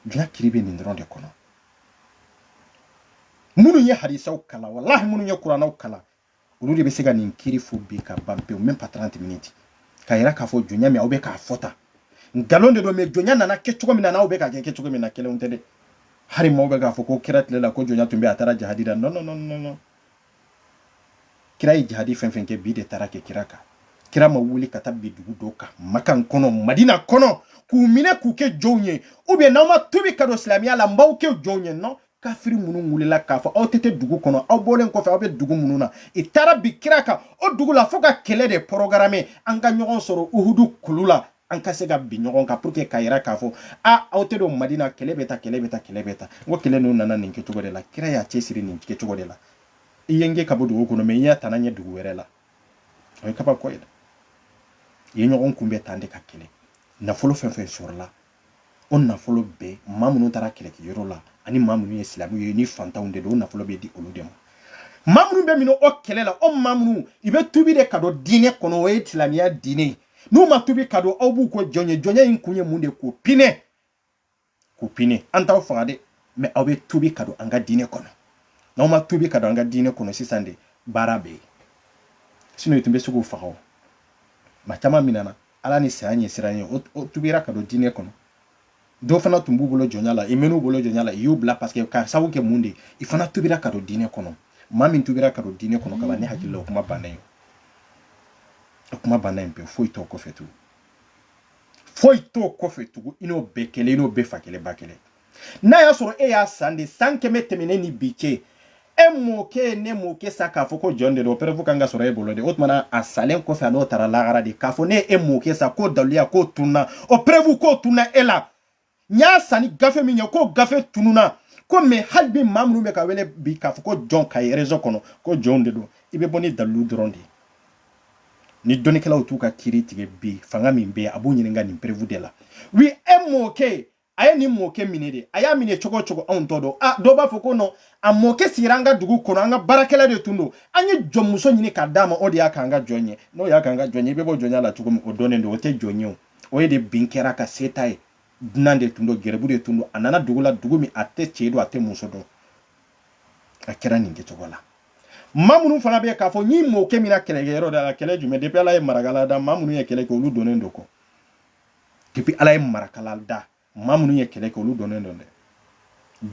jɔnya kiri bɛ nin dɔrɔn de kɔnɔ minnu ye hadisaw kalan walahi minnu ye kurannaw kalan olu de bɛ se ka nin kiri fɔ bi ka ban pewu même pas 30 minutes k'a yira k'a fɔ jɔnya min aw bɛ k'a fɔ tan nkalon de don mais jɔnya nana kɛ cogo min na n'aw bɛ k'a kɛ kɛ cogo min na kelen tɛ dɛ hali maaw bɛ k'a fɔ ko kira tile la ko jɔnya tun bɛ a taara jahadi la non non non non non kira ye jahadi fɛn fɛn kɛ bin de taara kɛ kira kan kira ma wuli ka taa bin dugu dɔw kan makan kɔnɔ madina kɔnɔ k'u minɛ k'u kɛ jɔnw ye ou bien n'aw ma tubi ka don silamɛya la n b'aw kɛ jɔnw ye non kafiri minnu wulila k'a fɔ aw tɛ tɛ dugu kɔnɔ aw bɔlen kɔfɛ aw bɛ dugu minnu na i taara bin kira kan o dugu la fo ka kɛlɛ de programmer an ka ɲɔgɔn sɔrɔ uhudu kulu la an ka se ka bin ɲɔgɔn kan pour que ka yira k'a fɔ a aw tɛ don madina kɛlɛ bɛ ta kɛlɛ bɛ ta kɛlɛ bɛ ta n ko kɛlɛ ninnu nana nin kɛcogo de la kira y'a cɛsiri nin kɛcogo de la i ye n gɛn ka bɔ dugu kɔnɔ mɛ n y'a tana ɲɛ dugu wɛrɛ la o ye kabako ye dɛ i ye ɲɔgɔn kunbɛn tan de ka kɛlɛ nafolo fɛn fɛn sɔrɔla o nafolo bɛɛ maa minnu taara kɛlɛkɛyɔrɔ la ani maa minnu ye silamɛw ye ni fantanw de don o nafolo bɛ di olu de ma maa minnu bɛ minɛ o kɛlɛ la o maa minnu i bɛ tubi de ka don diinɛ kɔnɔ o ye silamɛya diinɛ ye n'u ma tubi ka don aw b'u ko jɔn ye jɔnya in kun ye mun de ye k'u pinɛ k'u pinɛ an t'aw faga dɛ mɛ aw bɛ tubi ka don an ka diinɛ kɔnɔ n'aw ma tubi ka don an ka diinɛ kɔnɔ sisan de baara bɛ yen sinon i tun bɛ se k'u faga o maa caman minɛna ala ni saya ɲɛsiran ye o tubira ka don diinɛ kɔnɔ dɔw fana tun b'u bolo jɔnya la i mɛn'u bolo jɔnya la i y'u bila paseke ka sababu kɛ mun de i fana tubira ka don diinɛ kɔnɔ maa min tubira ka don diinɛ kɔnɔ kaban ne hakili la o kuma banna yen o kuma banna yen pewu foyi t'o kɔfɛ tugun foyi t'o kɔfɛ tugun i n'o bɛɛ kelen i n'o bɛɛ fa kelen ba kelen n'a y'a sɔrɔ e y'a san de san kɛmɛ tɛmɛnen ni bi cɛ e mɔkɛ ne mɔkɛ san k'a fɔ ko jɔn de don preuve kan ka sɔrɔ e bolo de o tuma a salen kɔfɛ a n'o taara lahara de k'a fɔ ne e mɔkɛ san k'o daliluya k'o tunna o preuve k'o tunna e la n y'a san ni gafe min ye k'o gafe tununna ko mɛ hali bi maa minnu bɛ ka wele bi k'a fɔ ko jɔn ka ye réseau kɔnɔ ko jɔnw de don i bɛ bɔ ni dalilu dɔrɔn de ye ni dɔnnikɛlaw t'u ka kiiri tigɛ bi fanga min bɛ yen a b'u ɲininka nin preuve de la wi e mɔkɛ a ye nin mɔkɛ minɛ de a y'a minɛ cogo cogo anw t'o dɔn a dɔw b'a fɔ ko nɔn a mɔkɛ sigira an ka dugu kɔnɔ an ka baarakɛla de tun don an ye jɔnmuso ɲini k'a d'a ma o de y'a k'an ka jɔn ye n'o y'a k'an ka jɔn ye i bɛ bɔ jɔnya la cogo min o dɔnnen don o tɛ jɔn ye o o ye de bin kɛra ka se ta ye dunan de tun don gɛrɛbu de tun don a nana dugu la dugu min a tɛ cɛ dɔn a tɛ muso dɔn a kɛra nin kɛcogo la maa minnu fana bɛ yen k'a fɔ nin mɔkɛ minɛna kɛlɛkɛyɔrɔ de la kɛlɛ jumɛn depuis ala ye marakala da maa minnu ye kɛlɛ kɛ olu dɔnnen don kɔ depuis ala ye marakala da maa minnu ye kɛlɛ kɛ olu dɔnnen don dɛ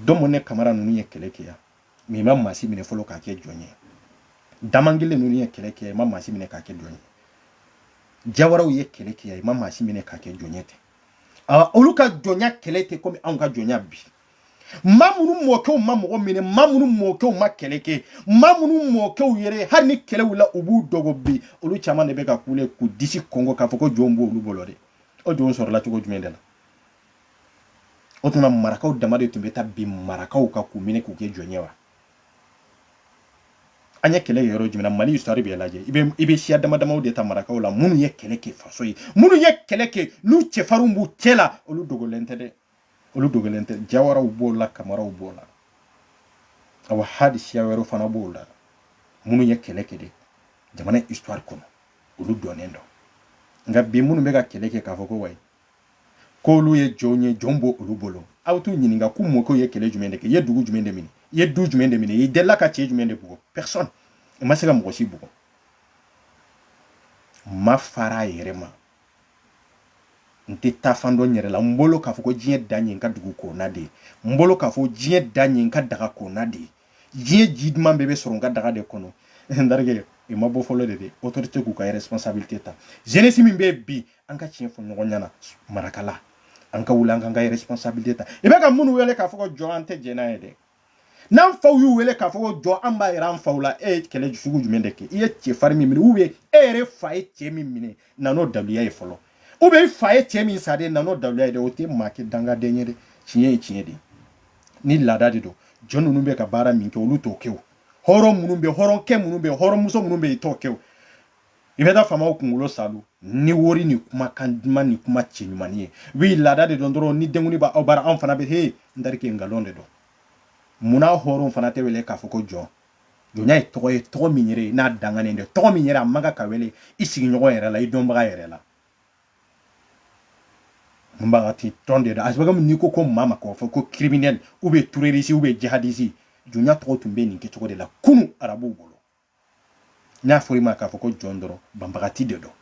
dɔmɔne kamara ninnu ye kɛlɛ kɛ yan mɛ i ma maa si minɛ fɔlɔ k'a kɛ jɔn ye damangile ninnu ye kɛlɛ kɛ yan i ma maa si minɛ k'a kɛ jɔn ye jawaraw ye kɛlɛ kɛ yan i ma maa si minɛ k'a kɛ jɔn ye tɛ olu ka jɔnya kɛlɛ tɛ komi anw ka jɔnya bi maa minnu mɔkɛw ma mɔgɔ minɛ maa minnu mɔkɛw ma kɛlɛ kɛ maa minnu mɔkɛw yɛrɛ hali ni kɛlɛ wulila u b'u dogo bi olu caman de bɛ ka kule k'u disi kɔnkɔn k'a fɔ ko jɔn b'olu bolo de o jɔn sɔrɔla cogo jumɛn de la o tuma marakaw dama de tun bɛ taa bin marakaw kan k'u minɛ k'u kɛ jɔn ye wa an ye kɛlɛ yɔrɔ jumɛn na mali histoire bɛ lajɛ i bɛ i bɛ siya dama damaw de ta marakaw la minnu ye kɛlɛ kɛ faso ye minnu ye kɛlɛ kɛ n'u cɛfarinw b'u cɛ la olu dogolen tɛ dɛ olu dogolen tɛ jawaraw b'o la kamaraw b'o la awa hali siya wɛrɛw fana b'o la minnu ye kɛlɛ kɛ de jamana histoire kɔnɔ olu dɔnnen don nka bi minnu bɛ ka kɛlɛ kɛ k'a fɔ ko wayi k'olu ye jɔnw ye jɔn b'olu bolo aw t'u ɲininka k'u mɔkɛw ye kɛlɛ jumɛn de kɛ i ye dugu jumɛn de minɛ i ye du jumɛn de minɛ i delila ka cɛ jumɛn de bugɔ personne i ma se ka mɔgɔ si bugɔ ma fara a yɛrɛ ma n tɛ taa fan dɔn n yɛrɛ la n bolo k'a fɔ ko diɲɛ dan ye n ka dugu kɔnɔna de ye n bolo k'a fɔ diɲɛ dan ye n ka daga kɔnɔna de ye diɲɛ ji duman bɛɛ bɛ sɔrɔ n ka daga de kɔnɔ n terikɛ i ma bɔ fɔlɔ de dɛ autorité k'u ka responsabilité ta jeunesse min bɛ bi an ka tiɲɛ fɔ ɲɔgɔn ɲɛna marakala an ka wuli an k'an ka responsabilité ta i bɛ ka minnu wele k'a fɔ ko jɔn an tɛ jɛn n'a ye dɛ n'an faw y'u wele k'a fɔ ko jɔn an b'a yira an faw la e ye kɛlɛ sugu jumɛn de kɛ i ye cɛfarin min minɛ ou bien e yɛrɛ fa ye cɛ min minɛ na n'o daluya ye fɔlɔ ou bien i fa ye cɛ min san de na n'o daluya ye dɛ o tɛ maa kɛ dangaden ye dɛ tiɲɛ ye tiɲɛ de ye ni laada de don jɔn ninnu bɛ ka baara min kɛ olu t'o kɛ o hɔrɔn minnu bɛ hɔrɔnkɛ minnu bɛ hɔrɔnmuso minnu bɛ yen i t'o kɛ o i bɛ taa faamaw kunkolo saalo ni wori ni kumakan duman ni kuma cɛɲumannin ye oui laada de don dɔrɔn ni denkundi b'aw bara anw fana bɛ he n terikɛ nkalon de don munna hɔrɔnw fana tɛ wele k'a fɔ ko jɔn jɔnya ye tɔgɔ ye tɔgɔ min yɛrɛ n'a danganen de tɔgɔ min yɛrɛ a man kan ka wele i sigiɲɔgɔn yɛrɛ la i dɔnbaga yɛrɛ la banbagati tɔgɔ de don a sababu n'i ko ko maa ma k'a fɔ ko criminel ou bien terroriste ou bien jihadiste jɔnya tɔgɔ tun bɛ nin kɛcogo de la kunun arabuw bolo n'a fɔra i ma k'a fɔ ko jɔn dɔrɔn banbagati de don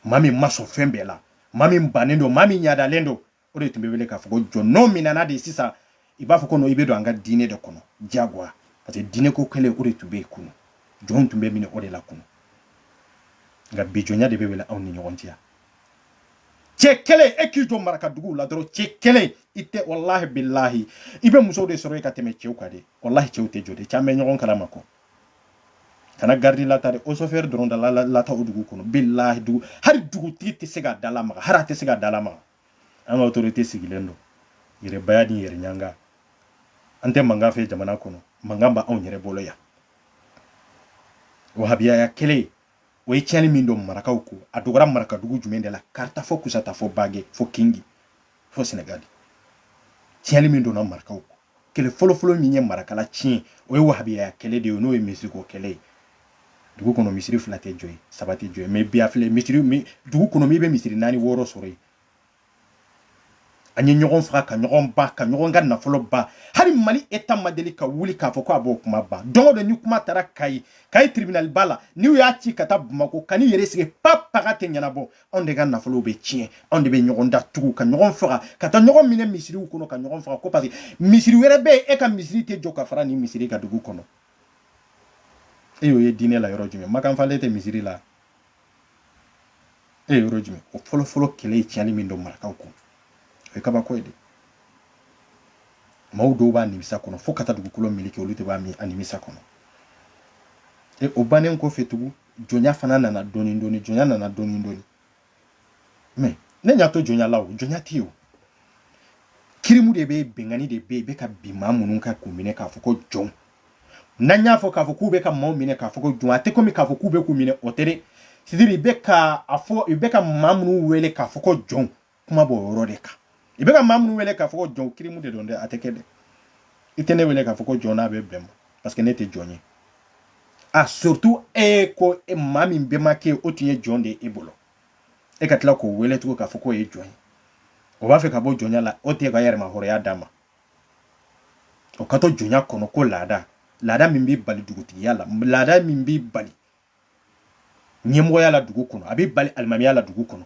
maa min ma sɔn fɛn bɛɛ la maa min bannen don maa min ɲadalen don o de tun bɛ wele k'a fɔ ko jɔn n'o minɛna de sisan i b'a fɔ ko i bɛ don an ka diinɛ de kɔnɔ jagoya parce que diinɛ ko kɛlɛ o de tun bɛ yen kunun jɔn tun bɛ minɛ o de la kunun nka bi jɔnya de bɛ wele aw ni ɲɔgɔn cɛ cɛ kelen e k'i jɔ maraka duguw la dɔrɔn cɛ kelen i tɛ walahi bilahi i bɛ musow de sɔrɔ i ka tɛmɛ cɛw kan de walahi cɛw tɛ jɔ de caman bɛ ɲɔgɔn kalama kɔ kana garidi latari osofɛri dɔrɔn da lata o dugu kɔnɔ bilahi dugu hali dugutigi tɛ se ka da lamaga hali a tɛ se ka da lamaga an ka autorité sigilen don yɛrɛbaya ni yɛrɛ ɲanga an tɛ mankan fɛ jamana kɔnɔ mankan b'anw yɛrɛ bolo yan wahabiyaya kɛlɛ o ye tiɲɛni min don marakaw ko a dogora marakadugu jumɛn de la kaarta fo kusata fo bage fo kingi fo senegali tiɲɛni min donna marakaw ko kɛlɛ fɔlɔfɔlɔ min ye marakala tiɲɛ o ye wahabiyaya kɛlɛ de ye n'o ye misiriko kɛlɛ ye dugu kɔnɔ misiri fila tɛ jɔ yen saba tɛ jɔ yen mais bi a filɛ misiri dugu kɔnɔ min bɛ misiri naani wɔɔrɔ sɔrɔ yen an ye ɲɔgɔn faga ka ɲɔgɔn ban ka ɲɔgɔn ka nafolo ban hali mali état ma deli ka wuli k'a fɔ ko a b'o kuma ban don go don ni kuma taara kayi kayi tribunal ba la n'u y'a ci ka taa bamakɔ ka n'i yɛrɛ sigi pa paga tɛ ɲɛnabɔ anw de ka nafolo bɛ tiɲɛ anw de bɛ ɲɔgɔn datugu ka ɲɔgɔn faga ka taa ɲɔgɔn minɛ misiriw kɔnɔ ka ɲɔgɔn faga ko parce que misiri wɛrɛ bɛ yen e ka misiri tɛ jɔ ka fara nin misiri kan dugu kɔnɔ e y'o ye diinɛ la yɔrɔ jumɛn makanfalen tɛ misiri la e ye yɔrɔ jumɛn o fɔlɔfɔlɔ kɛlɛ ye tiɲɛni min don marakaw kun o ye kabako ye de maaw dɔw b'a nimisa kɔnɔ fo ka taa dugukolo meleke olu de b'a min a nimisa kɔnɔ e o bannen kɔfɛ tugun jɔnya fana nana dɔɔni dɔɔni jɔnya nana dɔɔni dɔɔni mais ne ɲa t'o jɔnya la o jɔnya tɛ yen o kirimu de bɛ binkanni de bɛ yen bɛ ka bin maa minnu kan k'u minɛ k'a fɔ ko jɔn n'an y'a fɔ k'a fɔ k'u bɛ ka maaw minɛ k'a fɔ ko jɔn a tɛ komi k'a fɔ k'u bɛ k'u minɛ o tɛ dɛ c'est à dire i bɛ ka maa minnu wele k'a fɔ ko jɔn kuma b'o yɔrɔ de kan i bɛ ka maa minnu wele k'a fɔ ko jɔn kirimu de don dɛ a tɛ kɛ dɛ i tɛ ne wele k'a fɔ ko jɔn n'a bɛ bɛn ma parce que ne tɛ jɔn ye a surtout e ko e maa min bɛnbakɛ o tun ye jɔn de ye e bolo e ka tila k'o wele tugun k'a fɔ k'o ye jɔn ye o b'a fɛ ka bɔ jɔnya la o tɛ ka yɛrɛmahɔrɔnya d'a ma o ka to jɔnya kɔnɔ ko laada laada min bɛ bali dugutigiya la laada min bɛ bali ɲɛmɔgɔya la dugu kɔnɔ a bɛ bali alimamiya la dugu kɔnɔ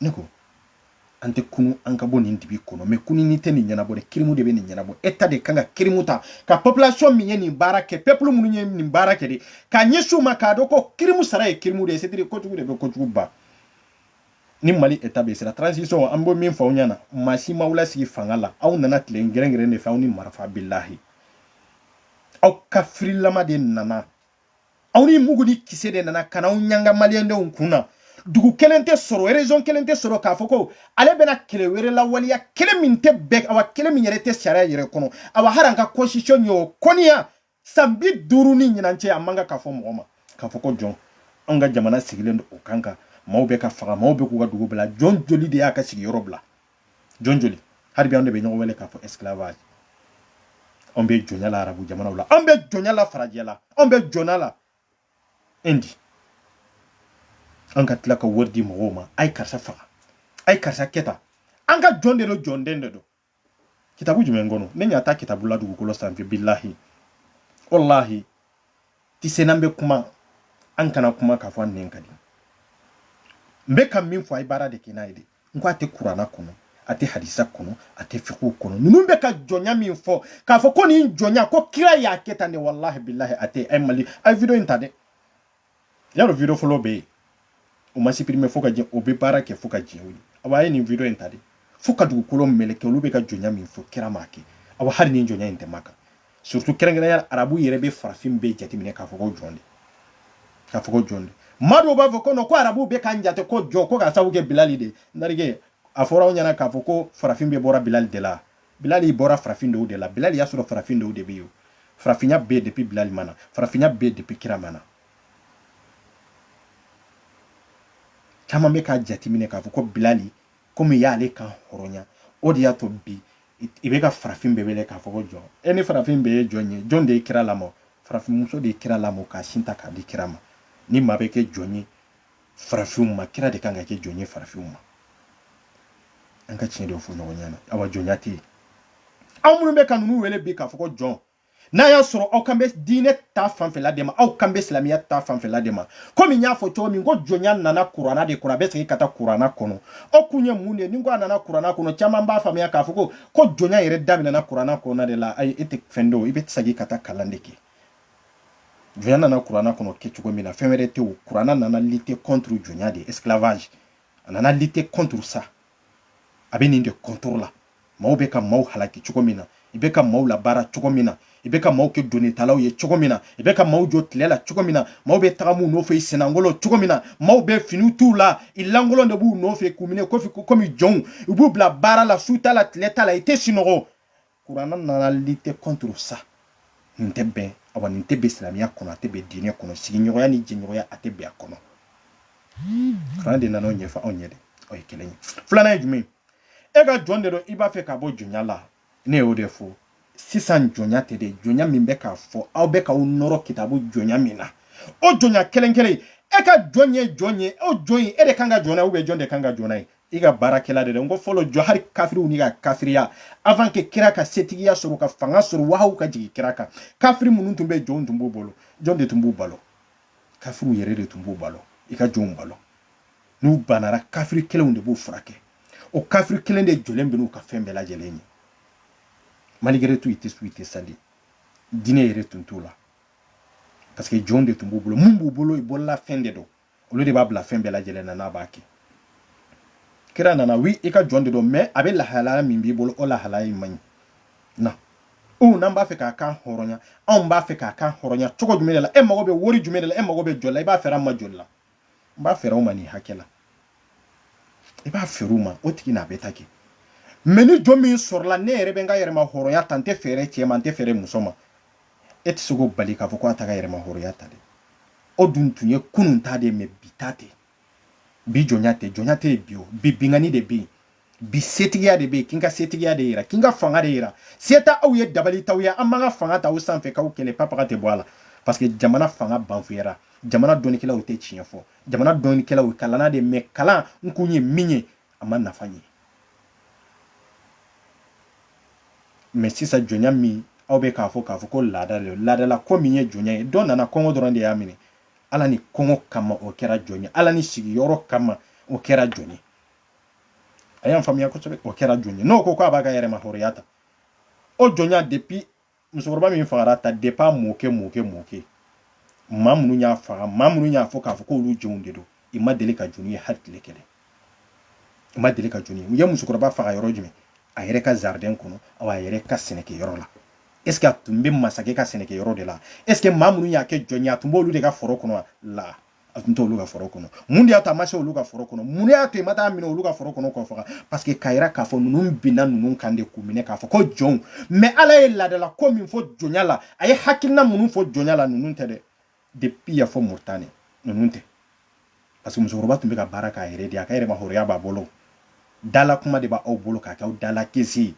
ne ko an tɛ kunun an ka bɔ nin dibi kɔnɔ mais kununni tɛ nin ɲɛnabɔ dɛ kirimu de bɛ nin ɲɛnabɔ état de kan ka kirimu ta ka population min ye nin baara kɛ peuple minnu ye nin baara kɛ de ka ɲɛsin u ma k'a dɔn ko kirimu sara ye kirimu de ye c'est à dire kojugu de bɛ kojugu ban ni mali état bɛ siran transition an bɛ min fɔ aw ɲɛna maa si m'aw lasigi fanga la aw nana tile gɛrɛngɛrɛn de fɛ aw ni marifa bilahi aw kafirilama de nana aw ni mugu ni kisɛ de nana ka na aw ɲanga maliyɛndenw kun na dugu kelen tɛ sɔrɔ région kelen tɛ sɔrɔ k'a fɔ ko ale bɛna kɛlɛ wɛrɛ lawaleya kɛlɛ min tɛ bɛn awa kɛlɛ min yɛrɛ tɛ sariya yɛrɛ kɔnɔ awa hali an ka constitution ye o kɔniya san bi duuru ni ɲinan cɛ a man kan k'a fɔ mɔgɔ ma k'a fɔ ko jɔn anw ka jamana sigilen don o kan kan maaw bɛ ka faga maaw bɛ k'u ka dugu bila jɔn joli de y'a ka sigiyɔrɔ bila jɔn joli hali bi an de bɛ ɲɔgɔn wele k'a fɔ esclavage anw bɛ jɔnya la arabu jamanaw la anw bɛ jɔnya la farajɛ la anw bɛ jɔnya la indi an ka tila ka wari di mɔgɔw ma a ye karisa faga a ye karisa kɛ tan an ka jɔn de don jɔnden de don kitabu jumɛn kɔnɔ ne ɲa t'a kitabu la dugukolo sanfɛ bilahi walahi ti se n'an bɛ kuma an kana kuma k'a fɔ an nɛn ka di n bɛ ka min fɔ a ye baara de kɛ n'a ye de n ko a tɛ kurana kɔnɔ a tɛ hadisa kɔnɔ a tɛ fikihu kɔnɔ ninnu bɛ ka jɔnya min fɔ k'a fɔ ko nin jɔnya ko kira y'a kɛ tan de walahi bilahi a tɛ ɛ mali a ye video in ta dɛ y'a dɔn video fɔlɔ bɛ yen o ma supprimer fo ka jɛ o bɛ baara kɛ fo ka jɛ o ye awa a ye nin video in ta de fo ka dugukolo meleke olu bɛ ka jɔnya min fɔ kira m'a kɛ awa hali nin jɔnya in tɛ maa kan surtout kɛrɛnkɛrɛnya arabu yɛrɛ bɛ farafin bɛɛ jateminɛ k'a fɔ ko jɔn de k'a fɔ ko jɔn de maa dɔw b'a fɔ ko non ko arabu bɛ k'an jate ko jɔn ko k'a sababu kɛ bilali de narige a fɔra aw ɲɛna k'a fɔ ko farafin bɛɛ bɔra bilali de la bilali bɔra farafin dɔw de la bilali y'a sɔrɔ farafin dɔw de bɛ yen farafinya bɛ depuis bilali ma na farafinya bɛ depuis kira ma na caman bɛ k'a jateminɛ k'a fɔ ko bilali komi y'ale kan hɔrɔnya o de y'a to bi i bɛ ka farafin bɛɛ wele k'a fɔ ko jɔn ni farafin bɛɛ ye jɔn ye jɔn de ye kira lamɔ farafinmuso de ye kira lamɔ k'a sin ta k'a di kira ma ni maa bɛ kɛ jɔn ye farafinw ma kira de kan ka kɛ jɔn ye farafinw ma an ka tiɲɛ de fɔ ɲɔgɔn ɲɛna awa jɔnya tɛ yen aw minnu bɛ ka ninnu wele bi k'a fɔ ko jɔn n'a y'a sɔrɔ aw kan bɛ diinɛ ta fanfɛla de ma aw kan bɛ silamɛya ta fanfɛla de ma komi n y'a fɔ cogo min ko jɔnya nana kuranna de kɔnɔ a bɛ segin ka taa kuranna kɔnɔ o kun ye mun de ye ni ko a nana kuranna kɔnɔ caman b'a faamuya k'a fɔ ko ko jɔnya yɛrɛ daminɛna kuranna kɔnɔna de la ayi e tɛ fɛn dɔn i bɛ segin ka taa kalan de kɛ jɔnya nana kuranna kɔnɔ kɛ cogo min na fɛn wɛrɛ tɛ o kuranna nana lutter contre jɔnya de esclavage a nana lutter contre ça a bɛ nin de contre la maaw bɛ ka maaw halaki cogo min na i bɛ ka maaw labaara cogo min na i bɛ ka maaw kɛ donnitalaw ye cogo min na i bɛ ka maaw jɔ tile la cogo min na maaw bɛ tagama u nɔfɛ i sennankolon cogo min na maaw bɛ fini t'u la i lankolon de b'u nɔfɛ k'u minɛ kofi komi jɔnw u b'u bila baara la su t'a la tile t'a la i tɛ sunɔgɔ Kurana nana lutter contre ça nin tɛ bɛn awa nin tɛ bɛn silamɛya kɔnɔ a tɛ bɛn diinɛ kɔnɔ sigiɲɔgɔnya ni jɛɲɔgɔnya a tɛ bɛn a kɔnɔ kurana de nana o ɲɛfɔ anw ɲɛ dɛ o ye kelen ye filanan ye jumɛn e ka jɔn de don i b'a fɛ ka bɔ jɔnya la ne y'o de fɔ sisan jɔnya tɛ dɛ jɔnya min bɛ k'a fɔ aw bɛ k'aw nɔrɔ kitabu jɔnya min na o jɔnya kelen kelen e ka jɔn ye jɔn ye o jɔn ye e de kan ka jɔ n'a ye ou bien jɔn de kan ka jɔ n'a ye i ka baarakɛla de n ko fɔlɔ jɔ hali kafiriw n'i ka kafiriya avant que kira ka setigiya sɔrɔ ka fanga sɔrɔ wahayu ka jigin kira kan kafiri minnu tun bɛ jɔnw tun b'u bolo jɔn de tun b'u balo kafiriw yɛrɛ de tun b'u balo i ka jɔnw balo n'u banara kafiri kelenw de b'u furakɛ o kafiri kelen de jɔlen bɛ n'u ka fɛn bɛɛ lajɛlen ye malgré tout i tɛ sun i tɛ sali diinɛ yɛrɛ tun t'u la parce que jɔn de tun b'u bolo mun b'u bolo i bolola fɛn de don olu de b'a bila fɛn bɛɛ lajɛlen na n'a b'a kɛ kira nana oui i ka jɔn de don mais a bɛ lahalaya min b'i bolo o lahalaya in man ɲi na u n'an b'a fɛ k'a kan hɔrɔnya anw b'a fɛ k'a kan hɔrɔnya cogo jumɛn de la e mago bɛ wari jumɛn de la e mago bɛ joli la i b'a feere an ma joli la n b'a feere aw ma nin hakɛ la i b'a feere u ma o tigi n'a bɛ taa kɛ mais ni jɔn min sɔrɔla ne yɛrɛ bɛ n ka yɛrɛmahɔrɔnya ta n tɛ feere cɛ ma n tɛ feere muso ma e tɛ se k'o bali k'a fɔ ko a t'a ka yɛrɛma hɔrɔnya ta dɛ o dun tun ye kunun ta de ye mais bi ta tɛ bi jɔnya tɛ jɔnya tɛ yen bi o bi binkanni de bɛ yen bi setigiya de bɛ yen k'i ka setigiya de yira k'i ka fanga de yira se t'aw ye dabali t'aw ye an b'an ka fanga ta aw sanfɛ k'aw kɛlɛ papaga tɛ bɔ a la parce que jamana fanga banfuyara jamana dɔnnikɛlaw tɛ tiɲɛ fɔ jamana dɔnnikɛlaw kalanna de mais kalan in kun ye min ye a ma nafa ɲɛ mais sisan jɔnya min aw bɛ k'a fɔ k'a fɔ ko laada de laadala ko min ye jɔnya ye dɔ nana kɔngɔ dɔrɔn de y'a minɛ ala ni kɔngɔ kama o kɛra jɔn ye ala ni sigiyɔrɔ kama o kɛra jɔn ye a y'an faamuya kosɛbɛ o kɛra jɔn ye n'o ko k'a b'a ka yɛrɛmahɔrɔnya ta o jɔnya depuis musokɔrɔba min fagara ta depuis a mɔkɛ mɔkɛ mɔkɛ maa minnu y'a faga maa minnu y'a fɔ k'a fɔ k'olu jɔnw de don i ma deli ka jɔn ye hali tile kelen i ma deli ka jɔn ye u ye musokɔrɔba faga yɔrɔ jumɛn a yɛrɛ ka jardin kɔnɔ aw a yɛrɛ ka sɛnɛkɛyɔrɔ la est ce que a tun bɛ masakɛ ka sɛnɛkɛyɔrɔ de la est ce que maa minnu y'a kɛ jɔn ye a tun b'olu de ka foro kɔnɔ la a tun t'olu ka foro kɔnɔ mun de y'a to a ma se olu ka foro kɔnɔ mun de y'a to i ma t'a minɛ olu ka foro kɔnɔ k'o faga parce que k'a yira k'a fɔ ninnu binna ninnu kan de k'u minɛ k'a fɔ ko jɔnw mais ala ye laadala ko min fɔ jɔnya la a ye hakilina minnu fɔ jɔnya la ninnu tɛ dɛ depuis yan fo moritani ninnu tɛ parce que musokɔrɔba tun bɛ ka baara k'a yɛrɛ de a ka yɛrɛma hɔrɔnya b'a bolo dala kuma de b'aw bolo k'a kɛ aw dala kisi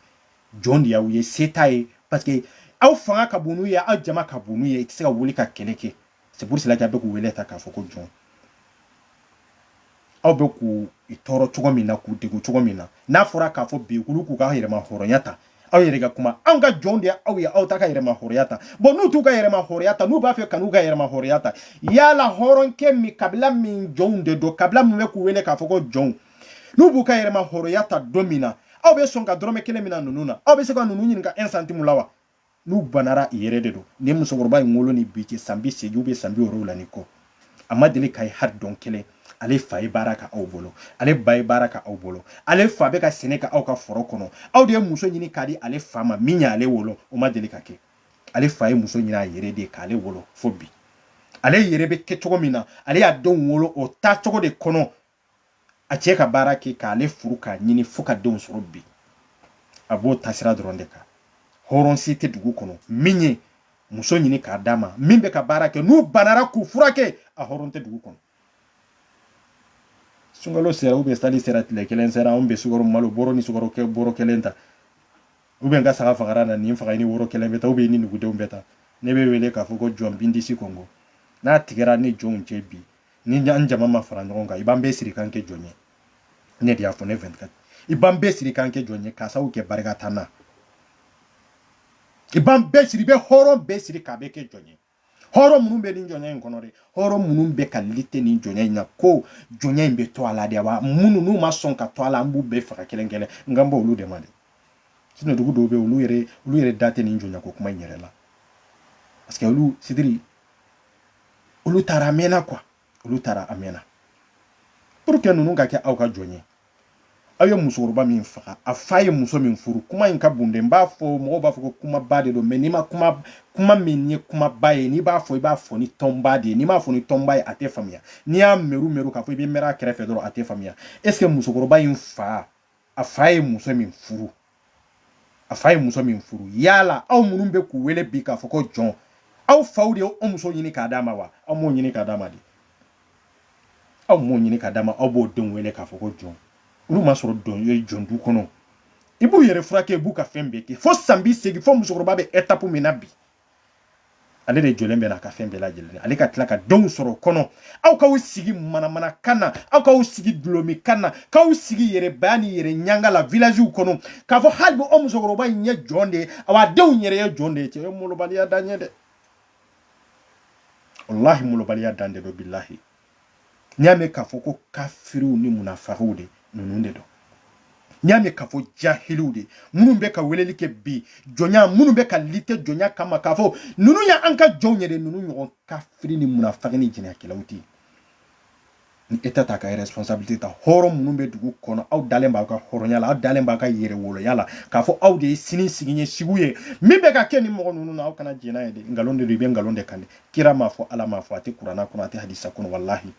jɔn de y'aw ye se t'a ye parce que aw fanga ka bon n'u ye aw jama ka bon n'u ye i tɛ se ka wuli ka kɛlɛ kɛ c'est pour cela que a bɛ k'u wele ta k'a fɔ ko jɔn aw bɛ k'u tɔɔrɔ cogo min na k'u degun cogo min na n'a fɔra k'a fɔ bi olu k'u ka yɛrɛma hɔrɔnya ta aw yɛrɛ ka kuma anw ka jɔnw de aw ye aw t'a ka yɛrɛma hɔrɔnya ta bon n'u t'u ka yɛrɛma hɔrɔnya ta n'u b'a fɛ ka n'u ka yɛrɛma hɔrɔnya ta yala hɔrɔnkɛ min kabila min jɔnw de don kabila min bɛ k'u wele k'a fɔ ko jɔnw n'u b'u ka yɛrɛma hɔrɔnya ta don min na aw bɛ sɔn ka dɔrɔmɛ kelen minɛ ninnu na aw bɛ se ka ninnu ɲininka un centime la wa n'u banara i yɛrɛ de don ni musokɔrɔba in wolo ni bi cɛ san bi seegin ou bien san bi wolonwula ni kɔ a ma deli k'a ye hali don kelen ale fa ye baara kɛ aw bolo ale ba ye baara kɛ aw bolo ale fa bɛ ka sɛnɛ kɛ aw ka foro kɔnɔ aw de ye muso ɲini k'a di ale fa ma min y'ale wolo o ma deli ka kɛ ale fa ye muso ɲini a yɛrɛ de k'ale wolo fo bi ale yɛrɛ bɛ kɛ cogo min na ale y'a denw wolo o taacogo de kɔnɔ a cɛ ka baara kɛ k'ale furu k'a ɲini fo ka denw sɔrɔ bi a b'o taasira dɔrɔn de kan hɔrɔn si tɛ dugu kɔnɔ min ye muso ɲini k'a d'a ma min bɛ ka baara kɛ n'u banara k'u furakɛ a hɔrɔn tɛ dugu kɔnɔ sunkalo sera ou bien sali sera tile kelen sera anw bɛ sukaro malo bɔrɔ ni sukaro kɛ bɔrɔ kelen ta ou bien n ka saga fagara na nin faga ni woro kelen bɛ ta ou bien ni nugudenw bɛ ta ne bɛ wele k'a fɔ ko jɔn bindisi kɔngɔ n'a tigɛra ni jɔnw cɛ bi ni an jama ma fara ɲɔgɔn kan i b'an bɛɛ siri k'an kɛ jɔn ye ne de y'a fɔ ne 24 i b'an bɛɛ siri k'an kɛ jɔn ye k'a sababu kɛ barika t'an na i b'an bɛɛ siri i bɛ hɔrɔn bɛɛ siri k'a bɛɛ kɛ jɔn ye hɔrɔn minnu bɛ nin jɔnya in kɔnɔ dɛ hɔrɔn minnu bɛ ka lite nin jɔnya in na ko jɔnya in bɛ to a la de wa minnu n'u ma sɔn ka to a la an b'u bɛɛ faga kelen kelen n kan bɔ olu de ma dɛ sinon dugu dɔw bɛ yen olu yɛrɛ olu yɛrɛ da tɛ nin jɔnya ko kuma in yɛrɛ la parce que olu sidiri olu taara a mɛnna quoi olu taara a mɛnna pour que ninnu ka kɛ aw ka jɔn ye aw ye musokɔrɔba min faga a fa ye muso min furu kuma in ka bon dɛ n b'a fɔ mɔgɔw b'a fɔ ko kumaba de don mais n'i ma kuma kuma min ye kumaba ye n'i b'a fɔ i b'a fɔ ni tɔnba de ye n'i m'a fɔ ni tɔnba ye a tɛ faamuya n'i y'a mɛru mɛru k'a fɔ i bɛ mɛrɛ a kɛrɛfɛ dɔrɔn a tɛ faamuya est ce que musokɔrɔba in fa a fa ye muso min furu a fa ye muso min furu yala aw minnu bɛ k'u wele bi k'a fɔ ko jɔn aw faw de ye o muso ɲini k'a d'a ma wa aw m'o ɲini k'a d'a ma dɛ aw m'o ɲini k'a d'a ma aw b'o denw wele k'a fɔ ko jɔn olu ma sɔrɔ dɔn ye jɔn du kɔnɔ i b'u yɛrɛ furakɛ i b'u ka fɛn bɛɛ kɛ fo san bi seegin fo musokɔrɔba bɛ etapu min na bi ale de jɔlen bɛ n'a ka fɛn bɛɛ lajɛlen ale ka tila ka denw sɔrɔ kɔnɔ aw k'aw sigi manamana kan na aw k'aw sigi dɔlɔmin kan na k'aw sigi yɛrɛbaya ni yɛrɛ ɲanga la vilaziw kɔnɔ k'a fɔ hali bi o musokɔrɔba in ye jɔn de ye awa a denw yɛrɛ ye jɔn de ye cɛ ye molobaliya dan ye dɛ walahi molobaliya dan de don bilahi n y'a mɛn k'a fɔ ko kafiriw ni munafikiw de ninnu de don n y'a mɛn k'a fɔ jahiliw de minnu bɛ ka weleli kɛ bi jɔnya minnu bɛ ka lite jɔnya kama k'a fɔ ninnu ye an ka jɔnw ye dɛ ninnu ɲɔgɔn kafiri ni munafiki ni jɛnɛkɛlaw tɛ ni État t'a ka responsabilité ta hɔrɔn minnu bɛ dugu kɔnɔ aw dalen b'aw ka hɔrɔnya la aw dalen b'aw ka yɛrɛwoloya la k'a fɔ aw de ye sini sigi ye sigiw ye min bɛ ka kɛ ni mɔgɔ ninnu na aw kana jɛn n'a ye dɛ nkalon de don i bɛ nkalon de kan dɛ kira m'a fɔ ala m'a fɔ a tɛ kuranna kɔnɔ a tɛ hadisa kɔnɔ walahi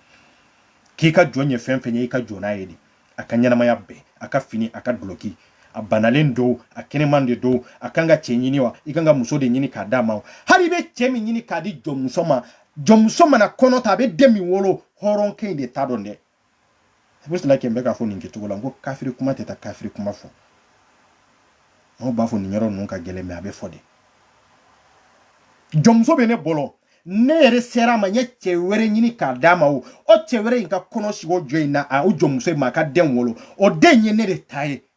k'i ka jɔn ye fɛn fɛn ye i ka jɔn n'a ye de a ka ɲɛnamaya bɛɛ a ka fini a ka duloki a banalen don a kɛnɛman de don a kan ka cɛ ɲini wa i kan ka muso de ɲini k'a d'a ma hali i bɛ cɛ min ɲini k'a di jɔnmuso ma jɔnmuso mana kɔnɔ ta a bɛ den min wolo hɔrɔnkɛ in de ta don dɛ pour cela que n bɛ k'a fɔ nin kɛcogo la n ko kafiri kuma tɛ taa kafiri kuma fɔ mɔgɔw b'a fɔ nin yɔrɔ ninnu ka gɛlɛn mais a bɛ fɔ de jɔnmuso bɛ ne bolo ne yɛrɛ sera a ma n ye cɛ wɛrɛ ɲini k'a d'a ma o o cɛ wɛrɛ in ka kɔnɔ sigi o jɔ in na a o jɔnmuso in ma a ka den wolo o den ye ne de ta ye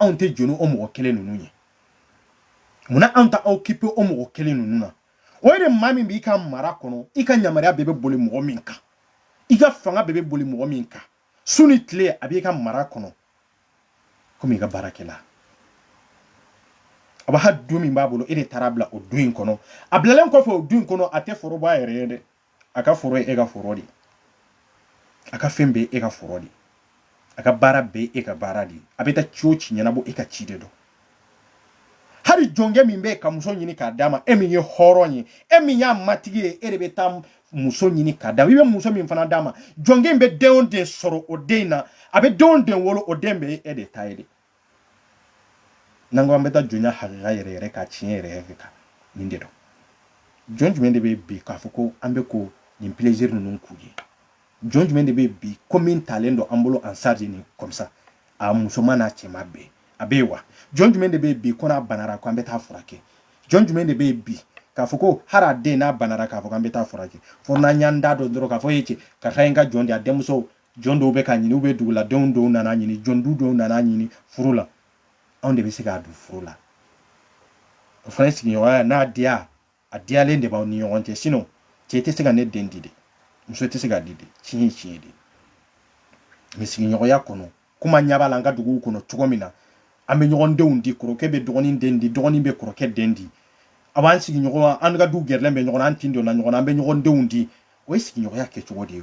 anw tɛ jɔ ni o mɔgɔ kelen ninnu ye munna anw t'an occuper o mɔgɔ kelen ninnu na o ye de maa min b'i ka mara kɔnɔ i ka yamaruya bɛɛ bɛ boli mɔgɔ min kan i ka fanga bɛɛ bɛ boli mɔgɔ min kan su ni tile a b'i ka mara kɔnɔ komi i ka baarakɛla a b'a ha du min b'a bolo e de taara a bila o du in kɔnɔ a bilalen kɔfɛ o du in kɔnɔ a tɛ foroba yɛrɛ ye dɛ a ka foro ye e ka foro de ye a ka fɛn bɛɛ e ka foro de ye a ka baara bɛɛ e ka baara de ye a bɛ taa ci o ci ɲɛnabɔ e ka ci de don hali jɔnkɛ min bɛ ka muso ɲini k'a d'a ma e min ye hɔrɔn ye e min y'a matigi ye e de bɛ taa muso ɲini k'a d'a ma i bɛ muso min fana d'a ma jɔnkɛ in bɛ den o den sɔrɔ o den in na a bɛ den o den wolo o den bɛɛ e de ta ye de n'an ko an bɛ taa jɔnya hakika yɛrɛ yɛrɛ kan tiɲɛ yɛrɛ yɛrɛ kan nin de don jɔn jumɛn de bɛ bi k'a fɔ ko an bɛ ko nin plaisir ninnu k'u ye jɔn jumɛn de bɛ bi ko min talen don an bolo en charge nin comme ça a musoman n'a cɛman bɛɛ a bɛ yen wa jɔn jumɛn de bɛ bi ko n'a banara ko an bɛ taa furakɛ jɔn jumɛn de bɛ bi k'a fɔ ko hali a den n'a banara k'a fɔ k'an bɛ taa furakɛ fo n'an y'an da don dɔrɔn k'a fɔ e cɛ karisa ye n ka jɔn de a denmuso jɔn dɔw bɛ ka ɲini u bɛ duguladenw dɔw nana ɲini jɔn du dɔw nana ɲini furu la anw de bɛ se k'a don furu la o fana sigiɲɔgɔnya n'a diya a diyalen de b'aw ni ɲɔgɔn cɛ sinɔn cɛ tɛ se ka ne den di de muso tɛ se ka di de tiɲɛ ye tiɲɛ de mɛ sigiɲɔgɔnya kɔnɔ kuma ɲɛ b'a la an ka duguw kɔnɔ cogo min na an bɛ ɲɔgɔn denw di kɔrɔkɛ bɛ dɔgɔnin den di dɔgɔnin bɛ kɔrɔkɛ den di a b'an sigiɲɔgɔn an ka du gɛrɛlen bɛ ɲɔgɔn na an tin donna ɲɔgɔn na an bɛ ɲɔgɔn denw di o ye sigiɲɔgɔnya kɛcogo de ye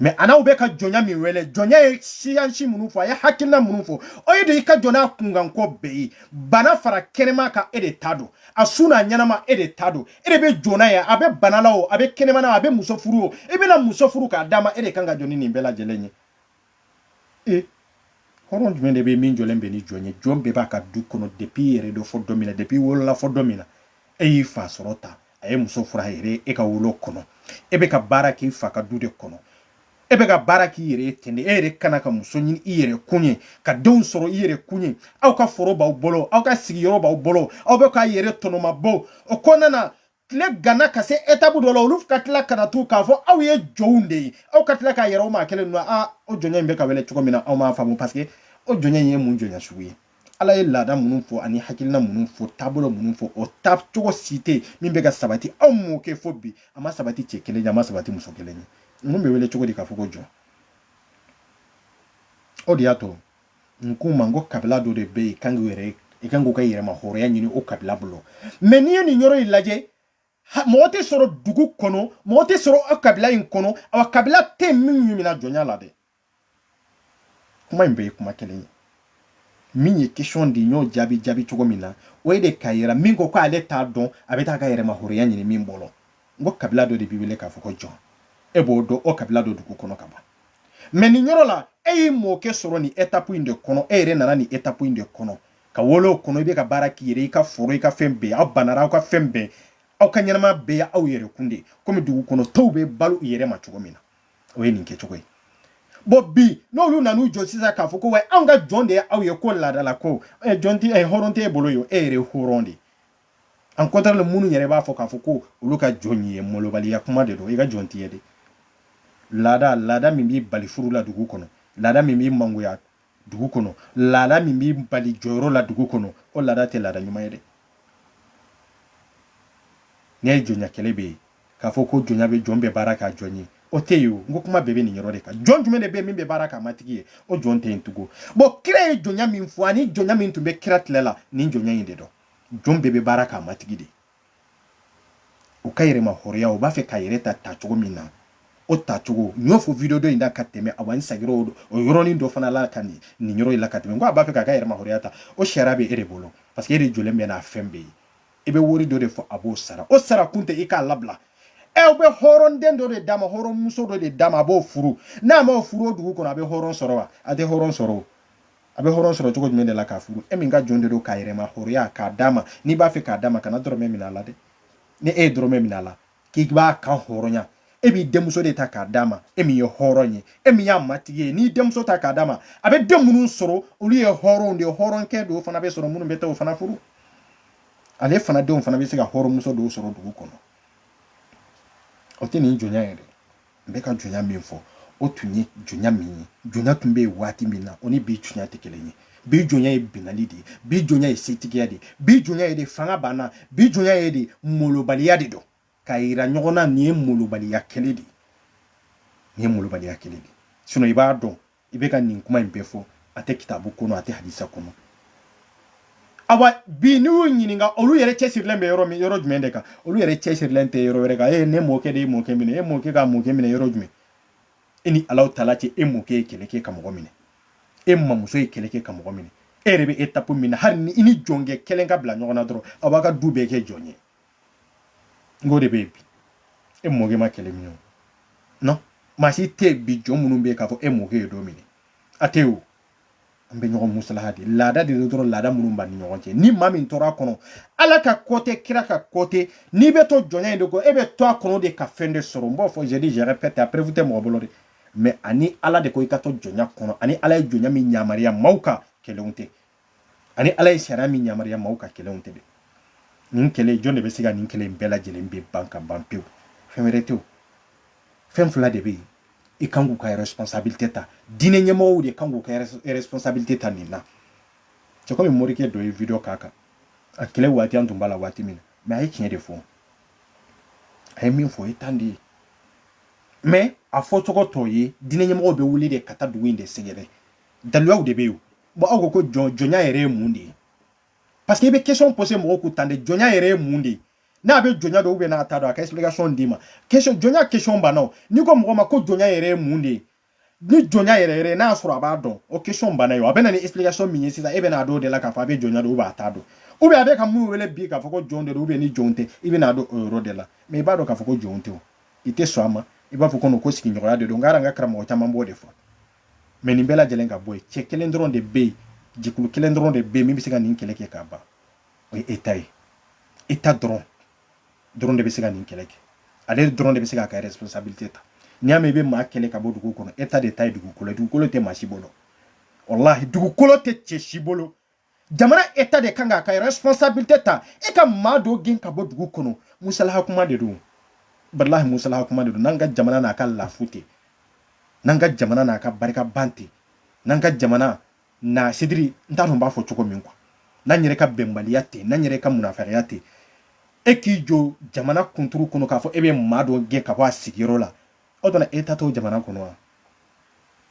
mɛ anw bɛ ka jɔnya min wele jɔnya ye siyansi minnu fɔ a ye hakilina minnu fɔ o ye de i ka jɔ n'a kunkanko bɛɛ ye bana fara kɛnɛma kan e de ta don a su n'a ɲɛnama e de ta don e de bɛ jɔ n'a ye a bɛ bana la o a bɛ kɛnɛma na a bɛ muso furu o i bɛna muso furu k'a d'a ma e de kan ka jɔ ni nin bɛɛ lajɛlen ye hɔrɔn jumɛn de bɛ min jɔlen bɛ ni jɔn ye jɔn bɛɛ b'a ka du kɔnɔ depi i yɛrɛ dɔn fo don min na depi i wolola fo don min na e y'i fa sɔrɔ tan a ye muso furu a yɛrɛ ye ka wolo kɔnɔ e bɛ ka baara k'i fa ka du de kɔnɔ e bɛ ka baara k'i yɛrɛ ye ten de e yɛrɛ ka na ka muso ɲini i yɛrɛ kun ye ka denw sɔrɔ i yɛrɛ kun ye aw ka foro b'aw bolo aw ka sigiyɔrɔ b'aw bolo aw bɛ k'a yɛrɛ tɔnɔmabɔ o kɔnɔna na tile ganna ka se étape dɔ la olu ka tila ka na to k'a fɔ aw ye jɔnw de ye aw ka tila k'a yira o maa kelen ninnu na o jɔnya in bɛ ka wele cogo min na aw m'a faamu parce que o jɔnya in ye mun jɔnya sugu ye ala ye laada minnu fɔ ani hakilina minnu fɔ taabolo minnu fɔ o ta cogo si tɛ min bɛ ka sabati aw m'o kɛ fo bi a ma sabati cɛ kelen ye a ma sabati muso kelen ye ninnu bɛ wele cogo di k'a fɔ ko jɔn o de y'a to n k'u ma n ko kabila dɔ de bɛ yen kan k'u yɛrɛ i kan k'u ka yɛrɛma hɔrɔnya ɲini o kabila bolo mɛ n'i ye nin yɔrɔ in lajɛ mɔgɔ tɛ sɔrɔ dugu kɔnɔ mɔgɔ tɛ sɔrɔ aw kabila in kɔnɔ aw kabila tɛ min ɲinina jɔnya la dɛ kuma in bɛɛ ye kuma kelen ye min ye question de y'o jaabi jaabi cogo min na o ye de k'a yira min ko ko ale t'a dɔn a bɛ taa ka yɛrɛma hɔrɔnya ɲini min bolo n ko kabila dɔ de b'i wele k'a fɔ ko jɔn e b'o dɔn o kabila dɔ dugu kɔnɔ ka ban mɛ nin yɔrɔ la e y'i mɔkɛ sɔrɔ nin étape in de kɔnɔ e yɛrɛ nana nin étape in de kɔnɔ ka wolo o kɔnɔ i bɛ ka baara k'i yɛrɛ i ka foro i ka fɛn bɛɛ aw banara aw ka fɛn bɛɛ aw ka ɲɛnama bɛɛ ye aw yɛrɛ kun de komi dugu kɔnɔ tɔw bɛ balo u yɛrɛ ma cogo min na o ye nin kɛcogo ye bon bi n'olu nan'u jɔ sisan k'a fɔ ko wa anw ka jɔn de ye aw ye ko laada la ko jɔn tɛ hɔrɔn tɛ e bolo ye e yɛrɛ hɔrɔn de en contraire minnu yɛrɛ b'a fɔ k'a fɔ ko olu ka jɔn ye malobaliya kuma de don i ka jɔn tɛ yen dɛ laada laada min b'i bali furu la dugu kɔnɔ laada min b'i mangoya dugu kɔnɔ laada min b'i bali jɔyɔrɔ la dugu kɔnɔ o laada tɛ laada ɲuman ye dɛ n'i ye jɔnya kɛlɛ bɛ yen k'a fɔ ko jɔnya bɛ jɔn bɛ baara k'a jɔn ye o tɛ yen o n ko kuma bɛɛ bɛ nin yɔrɔ de kan jɔn jumɛn de bɛ yen min bɛ baara k'a matigi ye o jɔn tɛ yen tugun bon kira ye jɔnya min fɔ ani jɔnya min tun bɛ kira tile la nin jɔnya in de don jɔn bɛɛ bɛ baara k'a matigi ye u ka yɛrɛma hɔrɔnya u b'a fɛ ka yɛrɛ ta tacogo min na o tacogo n y'o fɔ video dɔ in da ka tɛmɛ awa n sagir'o o yɔrɔnin dɔ fana la ka nin nin yɔrɔ in la ka tɛmɛ n ko a b'a fɛ k'a ka yɛrɛma hɔrɔnya ta o sariya bɛ e de bolo parce que e de jɔlen bɛ n'a fɛn bɛɛ ye i bɛ wari dɔ de fɔ a b'o sara o sara kun tɛ i k'a labila ɛ eh, u bɛ hɔrɔnden dɔ de d'a ma hɔrɔnmuso dɔ de d'a ma a b'o furu n'a m'o furu o dugu kɔnɔ a bɛ hɔrɔn sɔrɔ wa a tɛ hɔrɔn sɔrɔ o a bɛ hɔrɔn sɔrɔ cogo jumɛn de la k'a furu e min ka jɔn de don k'a yɛrɛma hɔrɔnya k'a d'a ma n'i b'a fɛ k'a d'a ma kana dɔrɔmɛ minɛ a la dɛ ni e ye dɔrɔmɛ minɛ a la k'i b'a kanhɔrɔnya e b'i denmuso de ta k'a d'a ma e min ye hɔrɔn ye e min y'a matigi ye n'i denmuso ta k'a d'a ma a bɛ den minnu sɔrɔ olu ye hɔrɔnw de ye hɔrɔnkɛ dɔw fana bɛ sɔrɔ minnu bɛ taa o fana furu ale fana denw fana bɛ se ka hɔrɔnmuso dɔw sɔrɔ dugu kɔnɔ o tɛ nin jɔnya ye dɛ n bɛ ka jɔnya min fɔ o tun ye jɔnya min ye jɔnya tun bɛ yen waati min na o ni bi jɔnya tɛ kelen ye bi jɔnya ye binali de ye bi jɔnya ye setigiya de ye bi jɔnya ye de fanga banna bi jɔnya ye de molobaliya de don k'a yira ɲɔgɔn na nin ye molobaliya kelen de ye nin ye molobaliya kelen de ye sinon i b'a dɔn i bɛ ka nin kuma in bɛɛ fɔ a tɛ kitabu kɔnɔ a tɛ hadisa kɔnɔ awa bi n'i y'u ɲininka olu yɛrɛ cɛsirilen bɛ yɔrɔ min yɔrɔ jumɛn de kan olu yɛrɛ cɛsirilen tɛ yɔrɔ wɛrɛ kan e ne mɔkɛ de ye mɔkɛ minɛ e mɔkɛ ka mɔkɛ minɛ yɔrɔ jumɛn e ni ala tala cɛ e mɔkɛ ye kɛlɛ kɛ ka mɔgɔ minɛ e mamuso ye kɛlɛ kɛ ka mɔgɔ minɛ e yɛrɛ bɛ étape min na hali ni i ni jɔnkɛ kelen ka bila ɲɔgɔn na dɔrɔn aw b'a ka du bɛɛ kɛ jɔn ye n k'o de bɛ yen bi e mɔkɛ ma kɛlɛ min ye non maa si tɛ yen bi jɔn minnu bɛ yen k'a fɔ e mɔkɛ ye dɔ minɛ a tɛ yen o an bɛ ɲɔgɔn musalaha de laada de don dɔrɔn laada minnu b'an ni ɲɔgɔn cɛ ni maa min tora a kɔnɔ ala ka ko tɛ kira ka ko tɛ n'i bɛ to jɔnya in de kɔ e bɛ to a kɔnɔ de ka fɛn de sɔrɔ n b'a fɔ je dis je répète a preuve tɛ mɔgɔ bolo dɛ mais ani ala de ko i ka to jɔnya kɔnɔ ani ala ye jɔnya min yamaruya maaw kan kelen tɛ ani ala ye sariya min yamaruya maaw ka kɛlɛw tɛ nin kɛlɛ jɔn de bɛ se ka nin kɛlɛ bɛɛ lajɛlen bɛ ban ka ban pewu fɛn wɛrɛ tɛ fɛn fila de bɛ yen i kan k'u ka responsabilité ta diinɛ ɲɛmɔgɔw de kan k'u ka responsabilité ta nin na c'est comme morikɛ dɔ ye video k'a kan a kɛlɛ waati an tun b'a la waati min na mais a ye tiɲɛ de fɔ a ye min fɔ o ye tan de ye mais a fɔcogo t'o ye diinɛ ɲɛmɔgɔw bɛ wuli de ka taa dugu in de sɛgɛrɛ daliluyaw de bɛ yen bon aw ko ko jɔn jɔnya yɛrɛ ye mun de ye parce que i bɛ question poser mɔgɔw kun tan de jɔnya yɛrɛ ye mun de ye n'a bɛ jɔnya dɔn ou bien n'a t'a dɔn a ka explication d'i ma question jɔnya question banna o n'i ko mɔgɔ ma ko jɔnya yɛrɛ ye mun de ye ni jɔnya yɛrɛ yɛrɛ n'a y'a sɔrɔ a b'a dɔn o question banna ye o a bɛ na ni explication min ye sisan e bɛ n'a dɔn o de la k'a fɔ a bɛ jɔnya dɔn ou bien a t'a dɔn ou bien a bɛ ka mun wele bi k'a fɔ ko jɔn de don ou bien ni jɔn tɛ i bɛ n'a dɔn o yɔrɔ de la mais i b'a dɔn k'a fɔ ko jɔn tɛ o i tɛ sɔn a ma i b'a fɔ ko ko sigiɲɔgɔnya de don n ka karamɔgɔ caman b'o de fɔ mais nin bɛɛ lajɛlen ka bɔ yen cɛ kelen dɔrɔn de bɛ yen jɛkulu kelen dɔrɔn de bɛ yen min bɛ se ka nin kɛlɛ kɛ k'a ban o ye état ye état dɔrɔn dɔrɔn de bɛ se ka nin kɛlɛ kɛ ale dɔrɔn de bɛ se k'a ka responsabilité ta n'i y'a mɛn i bɛ maa kɛlɛ ka bɔ dugu kɔnɔ état de ta ye dugukolo ye dugukolo tɛ maa si bolo walahi dugukolo tɛ cɛ si bolo jamana état de kan k'a ka responsabilité ta e ka maa dɔ gɛn ka bɔ dugu kɔnɔ musalaha kuma de don walahi musalaha kuma de don n'an ka jamana n'a ka lafu tɛ n'an ka jamana n'a ka barika ban tɛ n'an ka jamana n'a c'est-à-dire n t'a dɔn n b'a fɔ cogo min quoi n'an yɛrɛ ka bɛnbaliya tɛ n'an yɛrɛ ka munafikiya tɛ e k'i jɔ jamana kunturu kɔnɔ k'a fɔ e bɛ maa dɔ gɛn ka bɔ a sigiyɔrɔ la aw dɔn na état t'o jamana kɔnɔ wa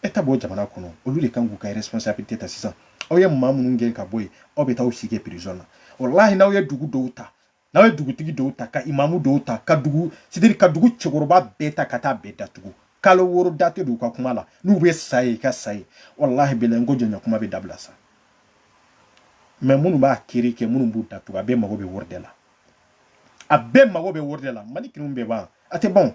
état b'o jamana kɔnɔ olu de kan k'u ka responsabilité ta sisan aw ye maa minnu gɛn ka bɔ yen aw bɛ taa aw si kɛ prison na walahi n'aw ye dugu dɔw ta n'aw ye dugutigi dɔw ta ka imamu dɔw ta ka dugu c'est-à-dire ka dugu cɛkɔrɔba bɛɛ ta ka taa bɛɛ datugu kalo wɔɔrɔ da tɛ don u ka kuma la n'u bɛ sa yen u ka sa yen walahi bilahi n ko jɔnya kuma bɛ dabila sa mais minnu b'a kiri kɛ minnu b'u datugu a bɛɛ mago bɛ wɔri de la a bɛɛ mago bɛ wɔri de la mali kiriw bɛɛ ban a tɛ ban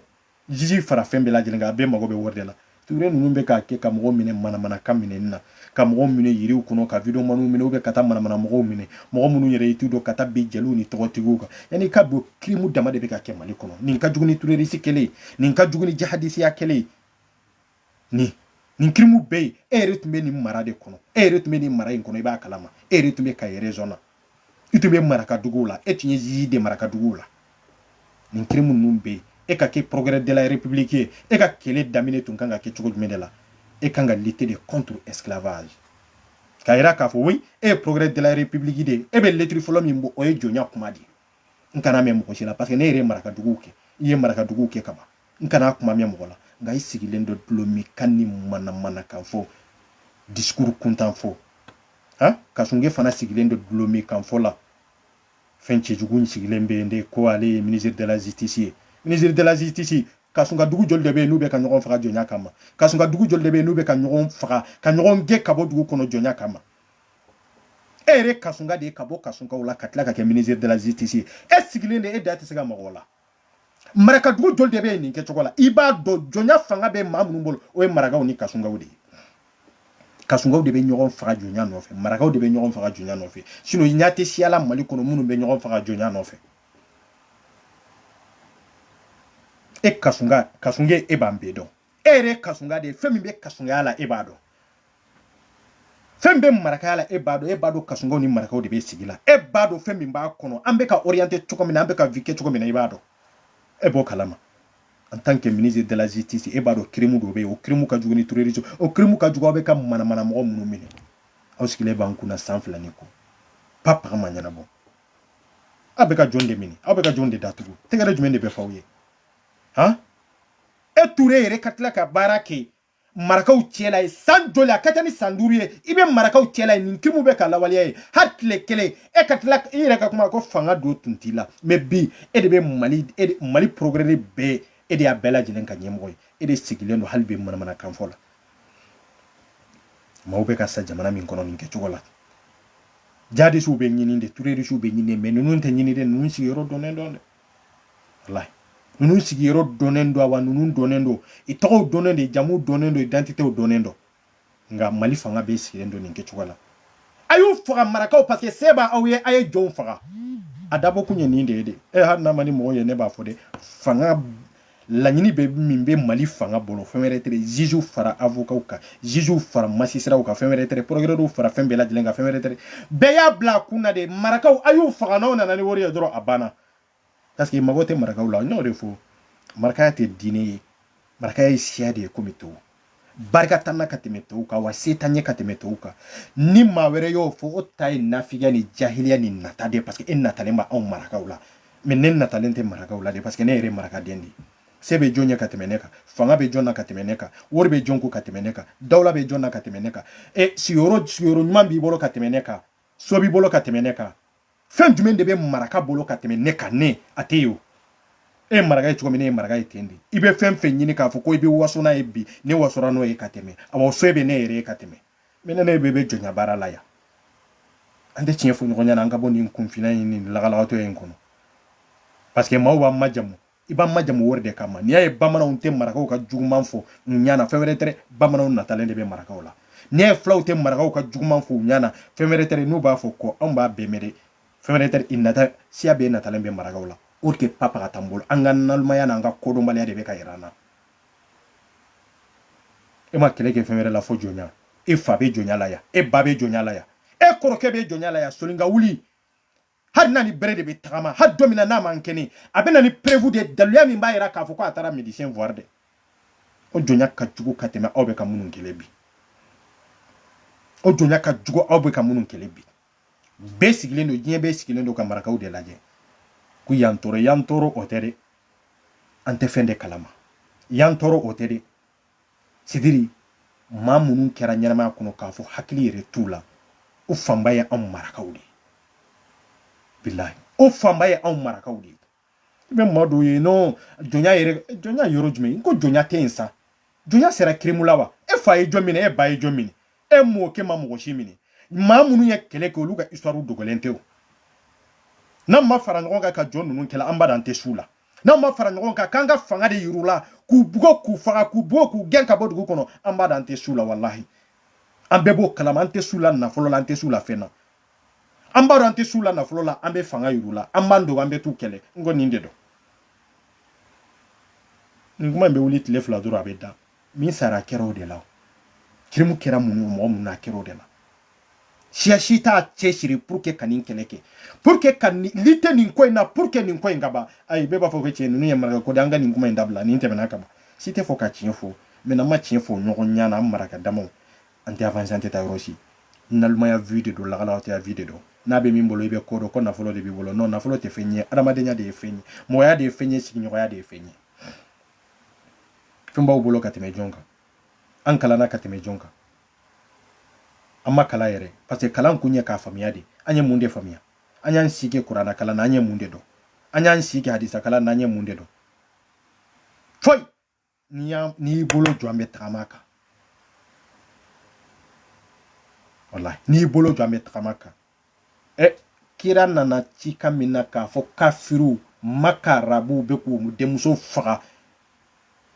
juge fara fɛn bɛɛ lajɛlen kan a bɛɛ mago bɛ wari de la touré ninnu bɛ k'a kɛ ka mɔgɔw minɛ manamanakan minɛni na ka mɔgɔw minɛ yiriw kɔnɔ ka videomaniw minɛ ou bien ka taa manamana mɔgɔw minɛ mɔgɔ minnu yɛrɛ i t'u dɔn ka taa bin jeliw ni tɔgɔtigiw kan yanni k'a dɔn crime dama de bɛ ka kɛ mali kɔnɔ nin ka jugu ni terroriste kɛlɛ ye nin ka jugu ni jahadisiya kɛlɛ ye nin nin crime bɛɛ ye e yɛrɛ tun bɛ nin mara de kɔnɔ e yɛrɛ tun bɛ nin mara in kɔnɔ i b'a kalama e yɛrɛ tun bɛ kayi région na i tun bɛ marakaduguw la e tun ye juge de marakaduguw la nin crime ninnu bɛ yen e ka kɛ procureur de la république ye e ka kɛlɛ daminɛ tun kan ka kɛ cogo jumɛn de la e kan ka lutter de contre esclavage k'a yira k'a fɔ oui e ye procureur de la république de ye e bɛ lettre fɔlɔ min bɔ o ye jɔnya kuma de ye n kan'a mɛn mɔgɔ si la parce que ne yɛrɛ ye marakaduguw kɛ i ye marakaduguw kɛ ka ban n kana kuma mɛn mɔgɔ la nka i sigilen don dɔlɔmin kan ni manamana kan fɔ disikuru kuntan fɔ ha kasunge fana sigilen don dɔlɔmin kan fɔ la fɛn cɛjugu sigilen bɛ yen de ko ale ye minisiri de la justice ye minisiri de la justice kasunka dugu joli de bɛ yen n'u bɛ ka ɲɔgɔn faga jɔnya kama kasunka dugu joli de bɛ yen n'u bɛ ka ɲɔgɔn faga ka ɲɔgɔn gɛn ka bɔ dugu kɔnɔ jɔnya kama e yɛrɛ kasunka de ye ka bɔ kasunkaw la ka tila ka kɛ minisiri de la justice ye e sigilen de e da tɛ se ka mag'o la marakadugu joli de bɛ yen nin kɛcogo la i b'a dɔn jɔnya fanga bɛ maa minnu bolo o ye marakaw ni kasunkaw de ye kasunkaw de bɛ ɲɔgɔn faga jɔnya nɔfɛ marakaw de bɛ ɲɔgɔn faga jɔnya nɔfɛ sinɔn i ɲɛ tɛ siya la mali kɔnɔ minnu bɛ ɲɔgɔn faga jɔnya nɔfɛ e kasunka kasunge e b'an bɛɛ dɔn e yɛrɛ ye kasunka de ye fɛn min bɛ kasunkaya la e b'a dɔn fɛn min bɛ marakaya la e b'a dɔn e b'a dɔn kasunkaw ni marakaw de bɛ sigi la e b'a dɔn fɛn min b'a kɔnɔ an bɛ ka orienté cogo min na an bɛ ka vie kɛ cogo min na i b'a dɔn e b'o kalama en tant que ministre de la justice e b'a dɔn kirimu dɔ bɛ yen o kirimu ka jugu ni terrorisme o kirimu ka jugu aw bɛ ka manamana mɔgɔ minnu minɛ aw sigilen b'an kunna san fila ni kɔ pa paga ma ɲɛnabɔ aw bɛ ka jɔn de minɛ aw bɛ ka jɔn de datugu tɛgɛrɛ jumɛn de bɛ fɔ aw ye han e ture yɛrɛ ka tila ka baara kɛ marakaw cɛla ye san joli a ka ca ni san duuru ye i bɛ marakaw cɛla ye nin kirimu bɛ ka lawaleya ye hali tile kelen e ka tila i yɛrɛ ka kuma ko fanga don tun t'i la mɛ bi e de bɛ mali e mali procureur bɛɛ e de y'a bɛɛ lajɛlen ka ɲɛmɔgɔ ye e de sigilen don hali bi manamanakan fɔ la maaw bɛ ka sa jamana min kɔnɔ nin kɛcogo la jihadisiw bɛ ɲini de tɛrɔrisiw bɛ ɲini mɛ ninnu tɛ ɲini de ninnu sigiyɔrɔ dɔnnen don dɛ walayi ninnu sigiyɔrɔ dɔnnen don wa ninnu dɔnnen don i tɔgɔw dɔnnen don i jamuw dɔnnen don idantitew dɔnnen don nka mali fanga bɛɛ sigilen don nin kɛcogo la a y'u faga marakaw parce que se b'a aw ye a ye jɔnw faga a dabɔ kun ye nin de ye de hali n'a man di mɔgɔ ye ne b'a fɔ de fanga laɲini bɛ min bɛ mali fanga bolo fɛn wɛrɛ tɛ ziziw fara avokaw kan ziziw fara masisiraw kan fɛn wɛrɛ tɛ procureurw fara fɛn bɛɛ lajɛlen kan fɛn wɛrɛ tɛ bɛɛ y'a bila a kun na de marakaw a y'u faga n'aw nana ni wari ye dɔrɔn a banna parce que mago tɛ marakaw la n y'o de fɔ marakaya tɛ diinɛ ye marakaya ye siya de ye komi tɔw barika t'an na ka tɛmɛ tɔw kan wa se t'an ye ka tɛmɛ tɔw kan ni maa wɛrɛ y'o fɔ o ta ye nafigiya ni jahiliya ni nata de parce que e natalen bɛ anw marakaw la mɛ ne natalen tɛ marakaw la de parce que ne yɛrɛ marakaden de se bɛ jɔn ye ka tɛmɛ ne kan fanga bɛ jɔn na ka tɛmɛ ne kan wari bɛ jɔn kun ka tɛmɛ ne kan dawula bɛ jɔn na ka tɛmɛ ne kan e sigiyɔrɔ sigiyɔrɔ ɲuman b'i bolo ka tɛmɛ ne kan so b'i bolo ka tɛmɛ ne kan fɛn jumɛn de bɛ maraka bolo ka tɛmɛ ne kan ne a tɛ yen o e ye maraka ye cogo min ne ye maraka ye ten de i bɛ fɛn fɛn ɲini k'a fɔ ko i bɛ waso n'a ye bi ne wasora n'o ye ka tɛmɛ a waso bɛ ne yɛrɛ ye ka tɛmɛ mɛ ne ne bɛ bɛ jɔnya baara la yan an tɛ tiɲɛ fɔ ɲɔgɔn ɲɛna an ka bɔ nin kunfinya in ni lagalagatɔya in kɔnɔ parce que maaw b'an majamu i b'an majamu wari de kama n'i y'a ye bamananw tɛ marakaw ka juguman fɔ u ɲana fɛn wɛrɛ tɛ bamananw natalen de bɛ marakaw la n'i y'a ye fulaw tɛ marakaw ka juguman fɔ u ɲana fɛn wɛrɛ tɛ n'u b'a fɔ ko anw b'a bɛɛ mɛn dɛ fɛn wɛrɛ tɛ i nata siya bɛɛ natalen bɛ marakaw la o tɛ papa ka tan bolo an ka nalimaya n'an ka kodɔnbaliya de bɛ ka yira an na e ma kɛlɛ kɛ fɛn wɛrɛ la fo jɔnya e fa bɛ jɔnya la yan e ba bɛ jɔnya la yan e kɔrɔkɛ bɛ jɔnya la yan soninka wuli hali n'a ni bere de bɛ tagama hali don min na n'a man kɛnɛ a bɛ na ni preuve de ye daluya min b'a jira k'a fɔ ko a taara médecin voir dɛ o jɔnya ka jugu ka tɛmɛ aw bɛ ka minnu kɛlɛ bi o jɔnya ka jugu aw bɛ ka minnu kɛlɛ bi bɛɛ sigilen don diɲɛ bɛɛ sigilen don ka marakaw de lajɛ ko y'an tɔɔrɔ y'an tɔɔrɔ o tɛ dɛ an tɛ fɛn de kalama y'an tɔɔrɔ o tɛ dɛ c'est-à-dire maa minnu kɛra ɲɛnamaya kɔnɔ k'a fɔ hakili yɛrɛ t'u la o fanba ye anw marakaw de ye bilahi o fanba ye anw marakaw de ye i bɛ maa dɔw ye non jɔnya yɛrɛ jɔnya yɔrɔ jumɛn ko jɔnya tɛ yen sa jɔnya sera kirimu la wa e fa ye jɔn minɛ e ba ye jɔn minɛ e mɔkɛ ma mɔgɔ si minɛ maa minnu ye kɛlɛ kɛ olu ka histoire dogolen tɛ o n'an ma fara ɲɔgɔn kan ka jɔn ninnu kɛlɛ abada an tɛ s'u la n'an ma fara ɲɔgɔn kan k'an ka fanga de yir'u la k'u bugɔ k'u faga k'u bugɔ k'u gɛn ka bɔ dugu kɔnɔ abada an tɛ s'u la walahi an bɛɛ b'o kalama an tɛ s'u la nafolo la an tɛ s'u la fɛn na an b'a dɔn an tɛ s'u la nafolo la an bɛ fanga yir'u la an b'an dogo an bɛ t'u kɛlɛ n ko nin de don nin kuma in bɛ wuli tile fila dɔrɔn a bɛ dan min sara kɛra o de la kirimu kɛra mun ye mɔgɔ mun na kɛra o de la siya si t'a cɛsiri pour que ka nin kɛlɛ kɛ pour que ka lutter nin ko in na pour que nin ko in ka ban ayi bɛɛ b'a fɔ ko tiɲɛ ninnu ye maraka ko de an ka nin kuma in dabila nin tɛmɛna ka ban si tɛ fɔ ka tiɲɛ fɔ mais n'an ma tiɲɛ fɔ ɲɔgɔn ɲana an maraka damaw an tɛ avancer an tɛ taa yɔrɔ si nalimaya vie de don lagalaw tɛ vie de don n'a bɛ min bolo i bɛ ko dɔn ko nafolo de b'i bolo non nafolo tɛ fɛn ye adamadenya de ye fɛn ye mɔgɔya de ye fɛn ye sigiɲɔgɔnya de ye fɛn ye fɛn b'aw bolo ka tɛmɛ jɔn kan an kalanna ka tɛmɛ jɔn kan an ma kalan yɛrɛ parce que kalan kun ye k'a faamuya de an ye mun de faamuya an y'an si kɛ kurana kalan na an ye mun de dɔn an y'an si kɛ hadisa kalan na an ye mun de dɔn foyi n'i y'a n'i y'i bolo jɔ an bɛ tagama kan walahi n'i y'i bolo jɔ an bɛ tagama kan ɛ kira nana cika min na k'a fɔ kafiriw maka arabuw bɛ k'u denmusow faga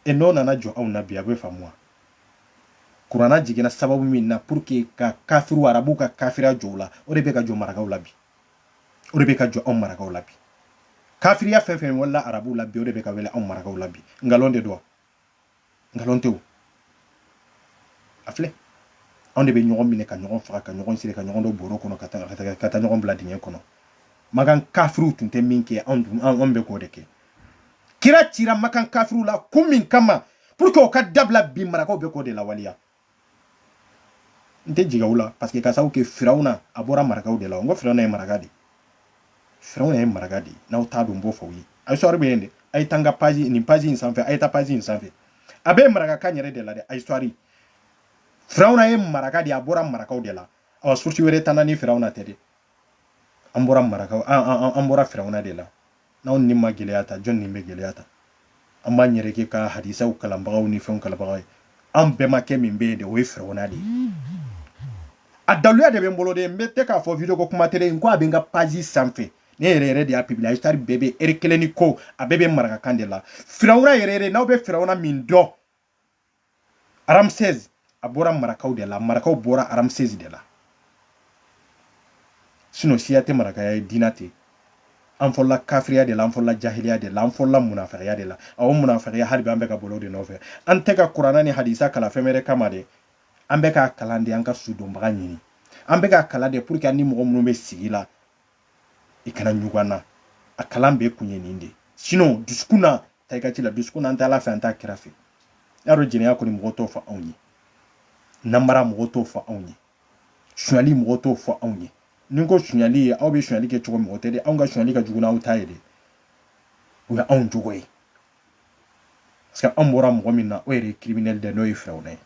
e n'o nana jɔ anw na bi a bɛ faamu wa kurana jiginna sababu min na pour que ka kafiriw arabuw ka kafiriya jɔ u la o de bɛ ka jɔ marakaw la bi o de bɛ ka jɔ anw marakaw la bi kafiriya fɛn fɛn wala arabuw la bi o de bɛ ka wele anw marakaw la bi nkalon de don nkalon tɛ o a filɛ anw de bɛ ɲɔgɔn minɛ ka ɲɔgɔn faga ka ɲɔgɔn siri ka ɲɔgɔn don bɔrɔ kɔnɔ ka taa ɲɔgɔn bila dingɛ kɔnɔ makan kafiriw tun tɛ min kɛ anw bɛ k'o de kɛ kira cira makan kafiriw la kun min kama pour que u ka dabila bi marakaw bɛ k'o de lawaleya n tɛ jigin aw la parce que ka sababu kɛ firawuna a bɔra marakaw de la n ko firawuna ye maraka de ye firawuna ye maraka de ye n'aw t'a dɔn n b'o fɔ aw ye a histoire bɛ yen de a ye taa n ka page nin page in sanfɛ a ye taa page in sanfɛ a bɛ marakakan yɛrɛ de la dɛ a histoire firawuna ye maraka de ye a bɔra marakaw de la awa source wɛrɛ t'an na ni firawuna tɛ de an bɔra marakaw an bɔra firawuna de la n'anw ni ma gɛlɛya ta jɔni bɛ gɛlɛya ta an b'an yɛrɛ kɛ ka hadisaw kalanbagaw ni fɛnw kalanbagaw ye an bɛnbakɛ min bɛ yen de o ye firawuna de ye a daluya de bɛ n bolo de n bɛ tɛ k'a fɔ video ko kuma tɛ de n ko a bɛ n ka page sanfɛ ne yɛrɛ yɛrɛ de y'a publier histoire bɛɛ bɛ heure kelen ni kɔ a bɛɛ bɛ marakakan de la firawuna yɛrɛ yɛrɛ n'aw bɛ firawuna min dɔn ramsès a bɔra marakaw de la marakaw bɔra ramsès de la sinon siya tɛ marakaya ye diina tɛ an fɔlɔla kafiriya de la an fɔlɔla jahiliya de la an fɔlɔla munafigiya de la a o munafigiya hali bi an bɛ ka boli o de nɔfɛ an tɛ ka kuranna ni hadisa kalan fɛn wɛrɛ kama de an bɛ k'a kalan de an ka sudonbaga ɲini an bɛ k'a kalan de pour que an ni mɔgɔ minnu bɛ sigi la i kana ɲugun an na a kalan bɛɛ kun ye nin de sinon dusukun na ta i ka ci la dusukun na an tɛ ala fɛ an t'a kira fɛ y'a dɔn jɛnɛya kɔni mɔgɔ t'o fɔ anw ye namara mɔgɔ t'o fɔ anw ye sonyali mɔgɔ t'o fɔ anw ye ni n ko sonyali ye aw bɛ sonyali kɛ cogo min o tɛ de anw ka sonyali ka jugu n'aw ta ye de o ye anw jogo ye parce que an bɔra mɔgɔ min na o yɛrɛ ye criminel dɛ n'o ye firawuna ye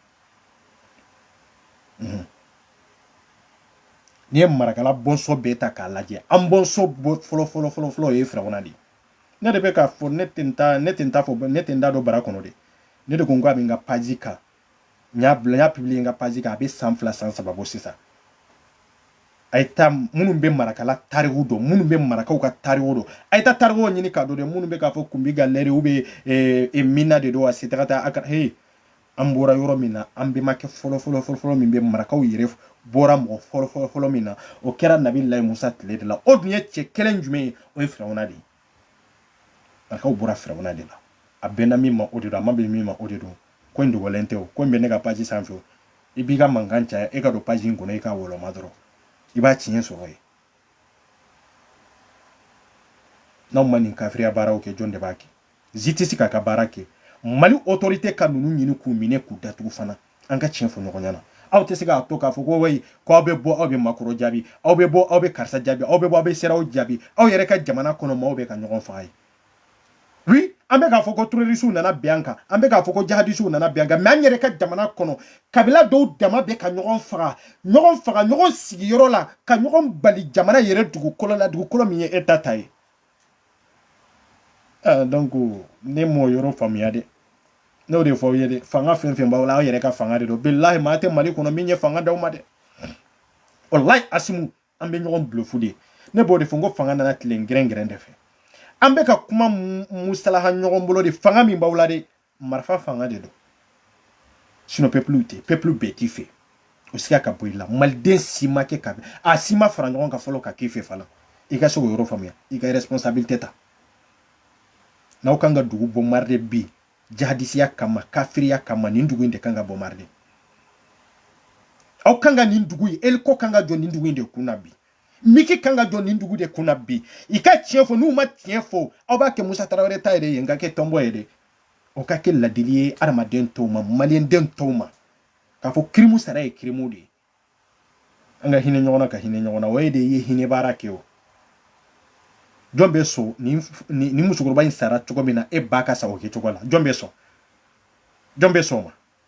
mhm. n'i ye marakala bɔnsɔn bɛɛ ta k'a lajɛ an bɔnsɔn fɔlɔ fɔlɔ fɔlɔ fɔlɔ o ye firawuna de ye ne de bɛ k'a fɔ ne tɛ n ta fɔ ne tɛ n da don bara kɔnɔ de ne de ko n ko a bɛ n ka page kan n y'a publier n ka page kan a bɛ san fila san saba bɔ sisan a ye taa minnu bɛ marakala tariku dɔn minnu bɛ marakaw ka tariku dɔn a ye taa tarikuw ɲini k'a dɔn dɛ minnu bɛ k'a fɔ kunbi galɛri u bɛ eh, eh, minna de don a se taga taa a ka he an bɔra yɔrɔ min na an bɛmakɛ fɔlɔ fɔlɔ fɔlɔ fɔlɔ min bɛ marakaw yɛrɛ bɔra mɔgɔ fɔlɔ fɔlɔ fɔlɔ min na o kɛra nabilayi musa tile de la o dun ye cɛ kelen jumɛn ye o ye firawuna de ye marakaw bɔra firawuna de la a bɛnna min ma o de don a ma bɛn min ma o de don ko in dogolen tɛ o ko in bɛ ne ka page sanfɛ o i b'i ka mankan caya e ka don page in kɔnɔ i k'a wɔlɔma dɔrɔn i b'a tiɲɛ sɔrɔ yen n'aw ma nin kafiriya baaraw kɛ jɔn de b'a kɛ justice k'a ka baara kɛ mali autorité ka ninnu ɲini k'u minɛ k'u datugu fana an ka tiɲɛ fɔ ɲɔgɔn ɲɛna aw tɛ se k'a to k'a fɔ ko wayi ko aw bɛ bɔ aw bɛ makɔrɔn jaabi aw bɛ bɔ aw bɛ karisa jaabi aw bɛ bɔ aw bɛ sedeyawo jaabi aw yɛrɛ ka jamana kɔnɔ maaw bɛ ka ɲɔgɔn faga ye oui an bɛ k'a fɔ ko terrorisiw nana bin an kan an bɛ k'a fɔ ko jihadisiw nana bin an kan mɛ an yɛrɛ ka jamana kɔnɔ kabila dɔw dama bɛ ka ɲɔgɔn faga ɲɔgɔn faga ɲɔgɔn sigiyɔrɔ la ka ɲɔgɔn bali jamana yɛrɛ dugukolo la dugukolo min ye État ta ye Ah, donc ne m'o yɔrɔ faamuya dɛ n y'o de fɔ aw ye dɛ fanga fɛn fɛn b'aw la aw yɛrɛ ka fanga de don bilahi maa tɛ mali kɔnɔ min ye fanga d'aw ma dɛ walahi asimu an bɛ ɲɔgɔn blufu de ne b'o de fɔ n ko fanga nana tile gɛrɛngɛrɛn de fɛ an bɛ ka kuma musalaha ɲɔgɔn bolo de fanga min b'aw la dɛ marifa fanga de don sinɔ pepuluw tɛ pepulu bɛɛ t'i fɛ o siga ka bɔ i la maliden si ma kɛ ka a si ma fara ɲɔgɔn kan fɔlɔ ka k'i fɛ fana i ka se k'o yɔrɔ faamuya i ka responsabilité ta n'aw kan ka dugu bombarder bi jahadisiya kama kafiriya kama nin dugu in de kan ka bombarder aw kan ka nin dugu in eliko kan ka jɔ nin dugu in de kunna bi miki kan ka jɔ nin dugu de kunna bi i ka tiɲɛ fɔ n'u ma tiɲɛ fɔ aw b'a kɛ musa tarawele ta yɛrɛ ye n ka kɛ tɔnbɔ ye dɛ o ka kɛ ladili ye adamaden tɔw ma maliyɛnden tɔw ma k'a fɔ kirimu sara ye kirimu de ye an ka hinɛ ɲɔgɔn na ka hinɛ ɲɔgɔn na o ye de ye hinɛ baara kɛ o jɔn bɛ sɔn nin nin musokɔrɔba in sara cogo min na e ba ka sa o kɛcogo la jɔn bɛ sɔn jɔn bɛ sɔn o ma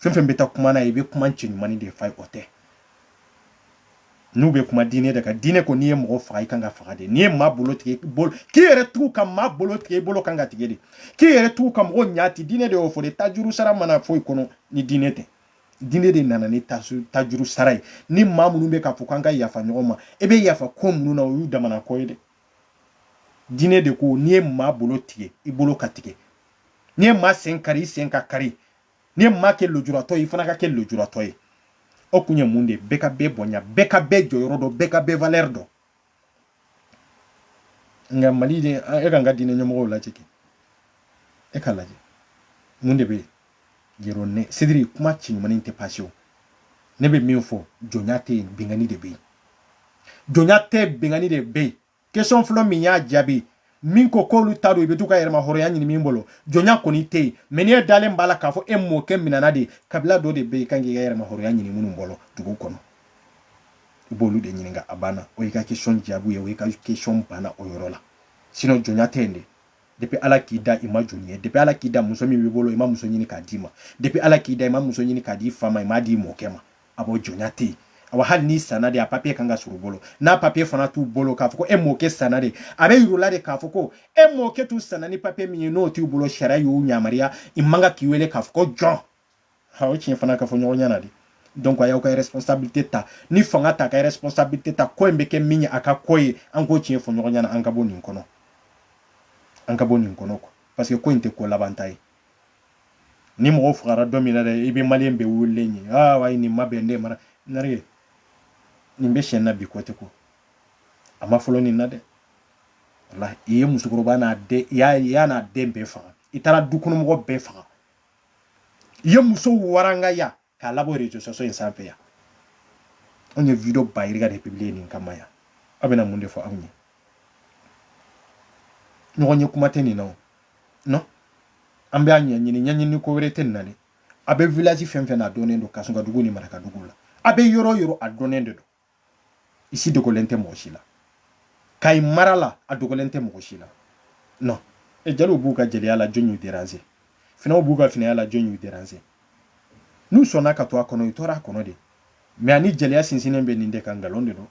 fɛn fɛn bɛ taa kuma na i bɛ kuma cɛɲuman de f'a ye o tɛ n'u bɛ kuma diinɛ de kan diinɛ ko n'i ye mɔgɔ faga i kan ka faga de n'i ye maa bolo tigɛ bolo k'i yɛrɛ tugu ka maa bolo tigɛ i bolo kan ka tigɛ de k'i yɛrɛ tugu ka mɔgɔ ɲa ti diinɛ de y'o fɔ de tajuru sara ma na foyi kɔnɔ ni diinɛ tɛ diinɛ de nana ni tajuru sara ye ni maa minnu bɛ k'a fɔ k'an ka yafa ɲɔgɔn ma e bɛ yafa ko minnu na o y'u damana ko ye dɛ diinɛ de ko n'i ye maa bolo tigɛ i bolo ka tigɛ n'i ye maa sen kari i sen ka kari n'i ye maa kɛ lujuratɔ ye i fana ka kɛ lujuratɔ ye o kun ye mun de ye bɛɛ ka bɛɛ bonya bɛɛ ka bɛɛ jɔyɔrɔ dɔn bɛɛ ka bɛɛ valɛri dɔn nka mali de e k'an ka diinɛ ɲɛmɔgɔw lajɛ kɛ e ka lajɛ mun de bɛ yen yɛrɛ ne sidiri kuma cɛɲuman tɛ pase o ne bɛ min fɔ jɔnya tɛ yen binkanni de bɛ yen jɔnya tɛ binkanni de bɛ yen question fɔlɔ min y'a jaabi min ko k'olu ta don i bɛ to ka yɛrɛmahɔrɔnya ɲini min bolo jɔnya kɔni tɛ yen mɛ n'e dalen b'a la k'a fɔ e mɔkɛ minɛna de kabila dɔ de bɛ yen i kan k'i ka yɛrɛmahɔrɔnya ɲini minnu bolo dugu kɔnɔ i b'olu de ɲininka a banna o y'i ka question jaabi ye o y'i ka question banna o yɔrɔ la sinɔn jɔnya tɛ yen de depuis ala k'i da i ma jɔn ye depuis ala k'i da muso min b'i bolo i ma muso ɲini k'a d'i ma depuis ala k'i da i ma muso ɲini k'a d'i fa ma i m'a d'i mɔkɛ ma a b'o jɔnya tɛ yen awa hali n'i sanna de a papiye kan ka sɔrɔ u bolo n'a papiye fana t'u bolo k'a fɔ ko e mɔkɛ sanna de a bɛ yir'u la de k'a fɔ ko e mɔkɛ t'u sanna ni papiye min ye n'o t'u bolo sariya y'u yamaruya i man kan k'i wele k'a fɔ ko jɔn ha o tiɲɛ fana ka fɔ ɲɔgɔn ɲɛ na de donc a y'aw ka responsabilité ta ni fanga t'a ka responsabilité ta ko in bɛ kɛ min ye a ka ko ye an k'o tiɲɛ fɔ ɲɔgɔn ɲɛna an ka bɔ nin kɔnɔ an ka bɔ nin kɔnɔ quoi parce que ko in tɛ ko laban ta ye ni mɔgɔ fagara don min na dɛ i bɛ maliyɛn bɛɛ wililen ye aa wa nin ma bɛn ne mara nare nin bɛ sen na bi ko tɛ ko a ma fɔlɔ nin na dɛ walahi i ye musokɔrɔba n'a den i y'a n'a den bɛɛ faga i taara dukɔnɔmɔgɔ bɛɛ faga i ye muso warangaya k'a labɔ réseaux sociaux in sanfɛ yan anw ye video ba yirika de publier nin kama yan aw bɛna mun de fɔ anw ye ɲɔgɔn ye kuma tɛ nin na o non an bɛ a ɲɛɲini ɲɛɲini ko wɛrɛ tɛ nin na dɛ a bɛ village fɛn fɛn na a dɔnnen don kasɔnka dugu ni maraka dugu la a bɛ yɔrɔ yɔrɔ a dɔnnen de don i si dogolen tɛ mɔgɔ si la kayi mara la a dogolen tɛ mɔgɔ si la non e jaliw b'u ka jeliya la jɔn y'u déranger finaw b'u ka finaya la jɔn y'u déranger n'u sɔnna ka to a kɔnɔ u tora a kɔnɔ de mais ani jeliya sinsinnen bɛ nin de kan nkalon de don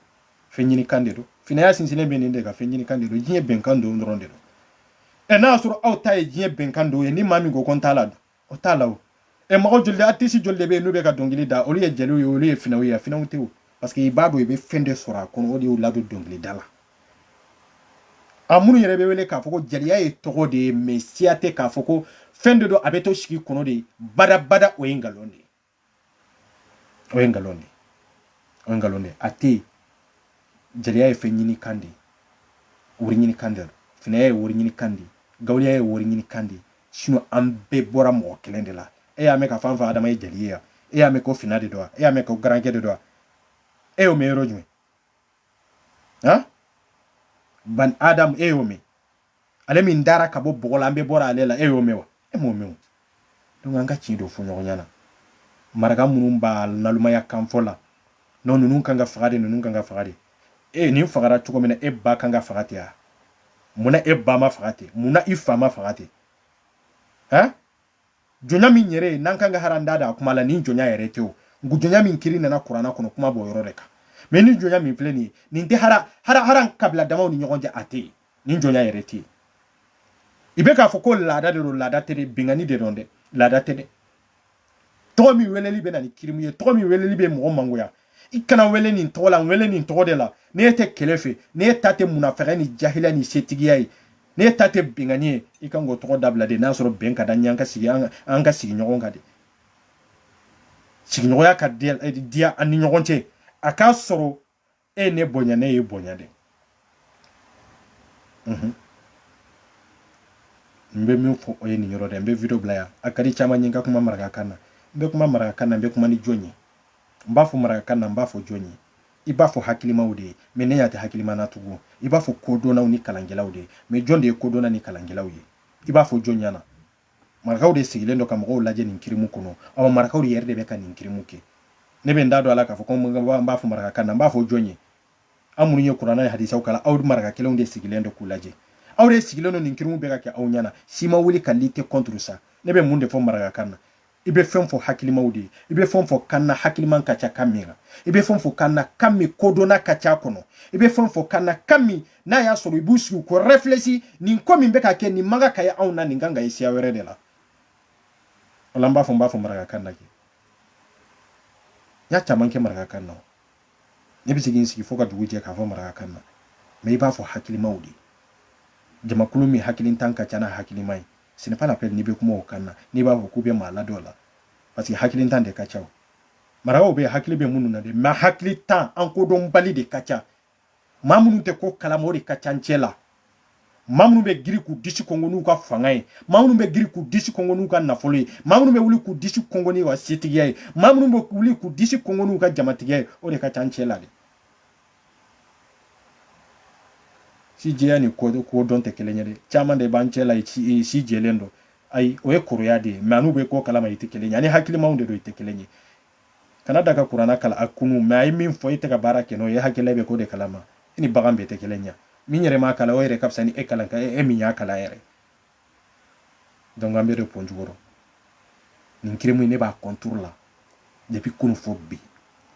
fɛn ɲini kan de don finaya sinsinnen bɛ nin de kan fɛn ɲini kan de don diɲɛ bɛnkan dɔ dɔrɔn de don ɛ n'a y'a sɔrɔ aw ta ye diɲɛ bɛnkan dɔ ye ni maa min ko ko n t'a la dun o t'a la o e mɔgɔ joli artiste joli de bɛ yen n'u bɛ ka dɔnkili da olu ye jeliw ye olu ye finaw ye finaw tɛ o parce que i b'a dɔn i bɛ fɛn de sɔrɔ a kɔnɔ o de y'u ladon dɔnkilida la a minnu yɛrɛ bɛ wele k'a fɔ ko jeliya ye tɔgɔ de ye mais siya tɛ k'a fɔ ko fɛn de don a bɛ to sigi kɔnɔ de badabada o ye nkalon de ye o ye nkalon de ye o ye nkalon de ye a tɛ yen jeliya ye fɛn ɲini kan de ye wari ɲini kan de finaya ye wari ɲini kan de gawuya ye wari ɲini kan de sinon an bɛɛ bɔra mɔgɔ kelen de la e y'a mɛn k'a f'an fa adama ye jeli ye e y'a mɛn ko fina de don wa e y'a mɛn ko garankɛ de don wa e y'o mɛn yɔrɔ jumɛn han bani adamu e y'o mɛn ale min dara ka bɔ bɔgɔ la an bɛɛ bɔra ale la e y'o mɛn wa e m'o mɛn donc an ka tiɲɛ dɔ fɔ ɲɔgɔn ɲɛna maraka minnu b'a nalumaya kan fɔ la non ninnu kan ka faga de ninnu kan ka faga de e nin fagara cogo min na e ba kan ka faga ten wa munna e ba ma faga ten munna i fa ma faga ten han jɔnya min yɛrɛ ye n'an kan ka hara n da da a kuma la nin jɔnya yɛrɛ tɛ o jɔnya min kiri nana kurana kɔnɔ kuma b'o yɔrɔ de kan mais nin jɔnya min filɛ nin ye nin tɛ hara kabila damaw ni ɲɔgɔn cɛ a tɛ yen ni jɔnya yɛrɛ tɛ yen i bɛ k'a fɔ ko laada de don laada tɛ de binkanni de don dɛ laada tɛ dɛ tɔgɔ min weleli bɛ na ni kirimu ye tɔgɔ min weleli bɛ mɔgɔ mangoya i kana wele nin tɔgɔ la n wele nin tɔgɔ de la ne tɛ kɛlɛ fɛ ne ta tɛ munafɛgɛ ni jahiliya ni setigiya ye ne ta tɛ binkanni ye i kan k'o tɔgɔ dabila de n'a sɔrɔ bɛn ka da ɲɛ an ka sigi an ka sigi ɲɔgɔn kan de sigiɲɔgɔnya ka diya an ni ɲɔgɔn cɛ a k'a sɔrɔ e ye ne bonya ne y'i bonya de mhm. n bɛ min fɔ o ye nin yɔrɔ de n bɛ video bila yan a ka di caman ye n ka kuma marakakan na n bɛ kuma marakakan na n bɛ kuma ni jɔn ye n b'a fɔ marakakan na n b'a fɔ jɔn ye i b'a fɔ hakilimaw de ye mais ne y'a tɛ hakilima na tugun i b'a fɔ kodɔnnaw ni kalankɛlaw de ye mais jɔn de ye kodɔnna ni kalankɛlaw ye i b'a fɔ jɔn ɲɛna marakaw de sigilen don ka mɔgɔw lajɛ nin kirimu kɔnɔ aw marakaw de yɛrɛ de bɛ ka nin kirimu kɛ ne bɛ n da don a la k'a fɔ ko n b'a fɔ marakakan na n b'a fɔ jɔn ye aw minnu ye kuranɛ ni hadisaw kalan aw maraka kelenw de sigilen don k'u lajɛ aw de sigilen don nin kirimu bɛ ka kɛ aw ɲɛna si ma wuli ka lutter contre ça ne bɛ mun de fɔ marakakan na i bɛ fɛn fɔ hakilimaw de ye i bɛ fɛn fɔ kan na hakiliman ka ca kan min kan i bɛ fɛn fɔ kan na kan min kodɔnna ka ca kɔnɔ i bɛ fɛn fɔ kan na kan min n'a y'a sɔrɔ i b'u sigi k'o réfléchir nin ko min bɛ ka kɛ nin man kan ka ye anw na nin kan ka ye siya wɛrɛ de la wala n b'a fɔ n b'a fɔ marakakan na kɛ n y'a caman kɛ marakakan na ne bɛ se ka n sigi fo ka dugu jɛ k'a fɔ marakakan na mais i b'a fɔ hakilimaw de ye jamakulu min hakilintan ka ca n'a hakilima ye ce n'est pas la peine n'i bɛ kuma o kan na n'i b'a fɔ k'u bɛ maa ladɔn la parce que hakilintan de ka ca marakaw bɛ hakili bɛ minnu na dɛ mais hakilintan ani kodɔnbali de ka ca maa minnu tɛ ko kalama o de ka ca an cɛ la maa minnu bɛ giri k'u disi kɔnkɔn n'u ka fanga ye maa minnu bɛ giri k'u disi kɔnkɔn n'u ka nafolo ye maa minnu bɛ wuli k'u disi kɔnkɔn n'u ka setigiya ye maa minnu bɛ wuli k'u disi kɔnkɔn n'u ka jamatigiya ye o de ka ca an cɛ la dɛ sijɛya ni kodɔn tɛ kelen ye dɛ caman de b'an cɛ la si si jɛlen don ayi o ye kɔrɔya de ye mais n'u bɛ ko kalama i tɛ kelen ye ani hakilimaw de don i tɛ kelen ye kana da ka kuranɛ kalan k'a kunu mais a ye min fɔ e tɛ ka baara kɛ n'o ye hakili la i bɛ ko de kalama i ni bagan bɛɛ tɛ kelen ye min yɛrɛ m'a kalan o yɛrɛ ka fisa ni e kalan e min y'a kalan yɛrɛ donc an bɛ de pɔn jukɔrɔ nin kirimu in ne b'a contre la depuis kunu fo bi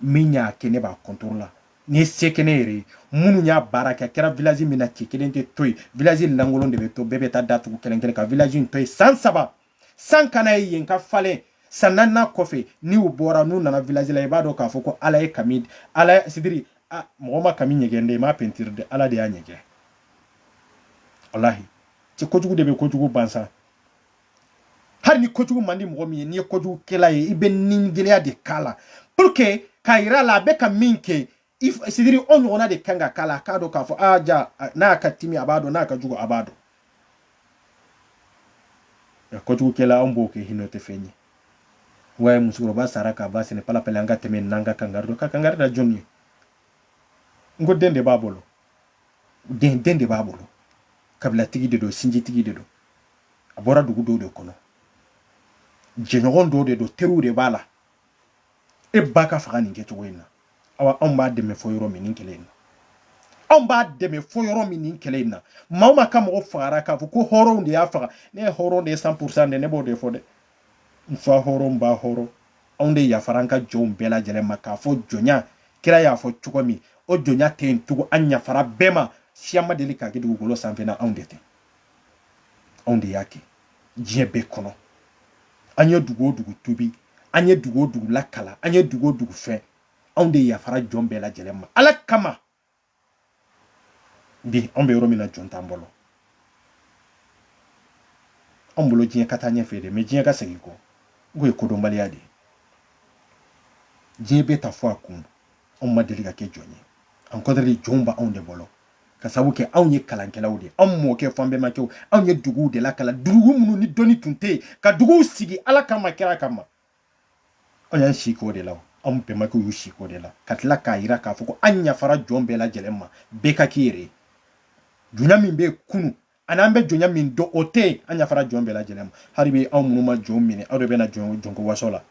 min y'a kɛ ne b'a contre la ni ye se kɛ ne yɛrɛ ye minnu y'a baara kɛ a kɛra village min na cɛ kelen tɛ to yen village lankolon de bɛ to bɛɛ bɛ taa datugu kelen kelen ka village in to yen san saba san kana ye yen ka falen san naaninan kɔfɛ n'u bɔra n'u nana village la i b'a dɔn k'a fɔ ko ala ye kami ala sidiri mɔgɔ ma kami ɲɛgɛn dɛ i m'a pentiri dɛ ala de y'a ɲɛgɛn walahi cɛ kojugu de bɛ kojugu ban sa hali ni kojugu man di mɔgɔ min ye n'i ye kojugukɛla ye i bɛ nigɛlɛya de k'a la pour que k'a yira a la a bɛ ka min kɛ sidiri o ɲɔgɔnna de kan ka k'a la k'a dɔn k'a fɔ aa ja n'a ka timi a b'a dɔn n'a ka jugu a b'a dɔn kojugukɛla anw b'o kɛ hinɛ tɛ fɛn ye wa musokɔrɔba sara k'a ba ce n'est pas la peine an ka tɛmɛ n'an ka kangari dɔ ka kangari da jɔn ye n ko den de b'a bolo den den de b'a bolo kabilatigi de don sinjitigi de don a bɔra dugu dɔw de kɔnɔ jɛɲɔgɔn dɔw de don teriw de b'a la e ba ka faga nin kɛcogo in na awa anw b'a dɛmɛ fɔ yɔrɔ min nin kɛlɛ in na anw b'a dɛmɛ fɔ yɔrɔ min nin kɛlɛ in na maa o maa ka mɔgɔ fagara k'a fɔ ko hɔrɔnw de y'a faga ne ye hɔrɔn de ye cent pour cent dɛ ne b'o de fɔ dɛ n fa hɔrɔn n ba hɔrɔn anw de yafara an ka jɔnw bɛɛ lajɛlen ma k'a fɔ jɔnya kira y'a fɔ cogo min o jɔnya tɛ yen tugun an yafara bɛɛ ma siya ma deli k'a kɛ dugukolo sanfɛ n'anw de tɛ anw de y'a kɛ diɲɛ bɛɛ kɔnɔ an ye dugu o dugu tuubi an ye dugu o dugu lakalan an ye dugu o dugu fɛn anw de yafara jɔn bɛɛ lajɛlen ma ala kama bi an bɛ yɔrɔ min na jɔn t'an bolo an bolo diɲɛ ka taa ɲɛfɛ de mais diɲɛ ka segin kɔ k'o ye kodɔnbaliya de ye diɲɛ bɛ taa fo a kun anw ma deli ka kɛ jɔn ye au contraire jɔnw b'anw de bolo ka sabu kɛ anw ye kalankɛlaw de anw mɔkɛ fo an bɛnbakɛw anw ye duguw de lakalan dugu minnu ni dɔnni tun tɛ yen ka duguw sigi ala kama kira kama an y'an si k'o de la an bɛnbakɛw y'u si k'o de la ka tila k'a jira k'a fɔ ko an yafara jɔn bɛɛ lajɛlen ma bɛɛ ka k'i yɛrɛ ye jɔnya min bɛ kunun ani an bɛ jɔnya min dɔn o tɛ yen an yafara jɔn bɛɛ lajɛlen ma hali bi anw minnu ma jɔn minɛ aw de bɛna jɔn jɔnko waso la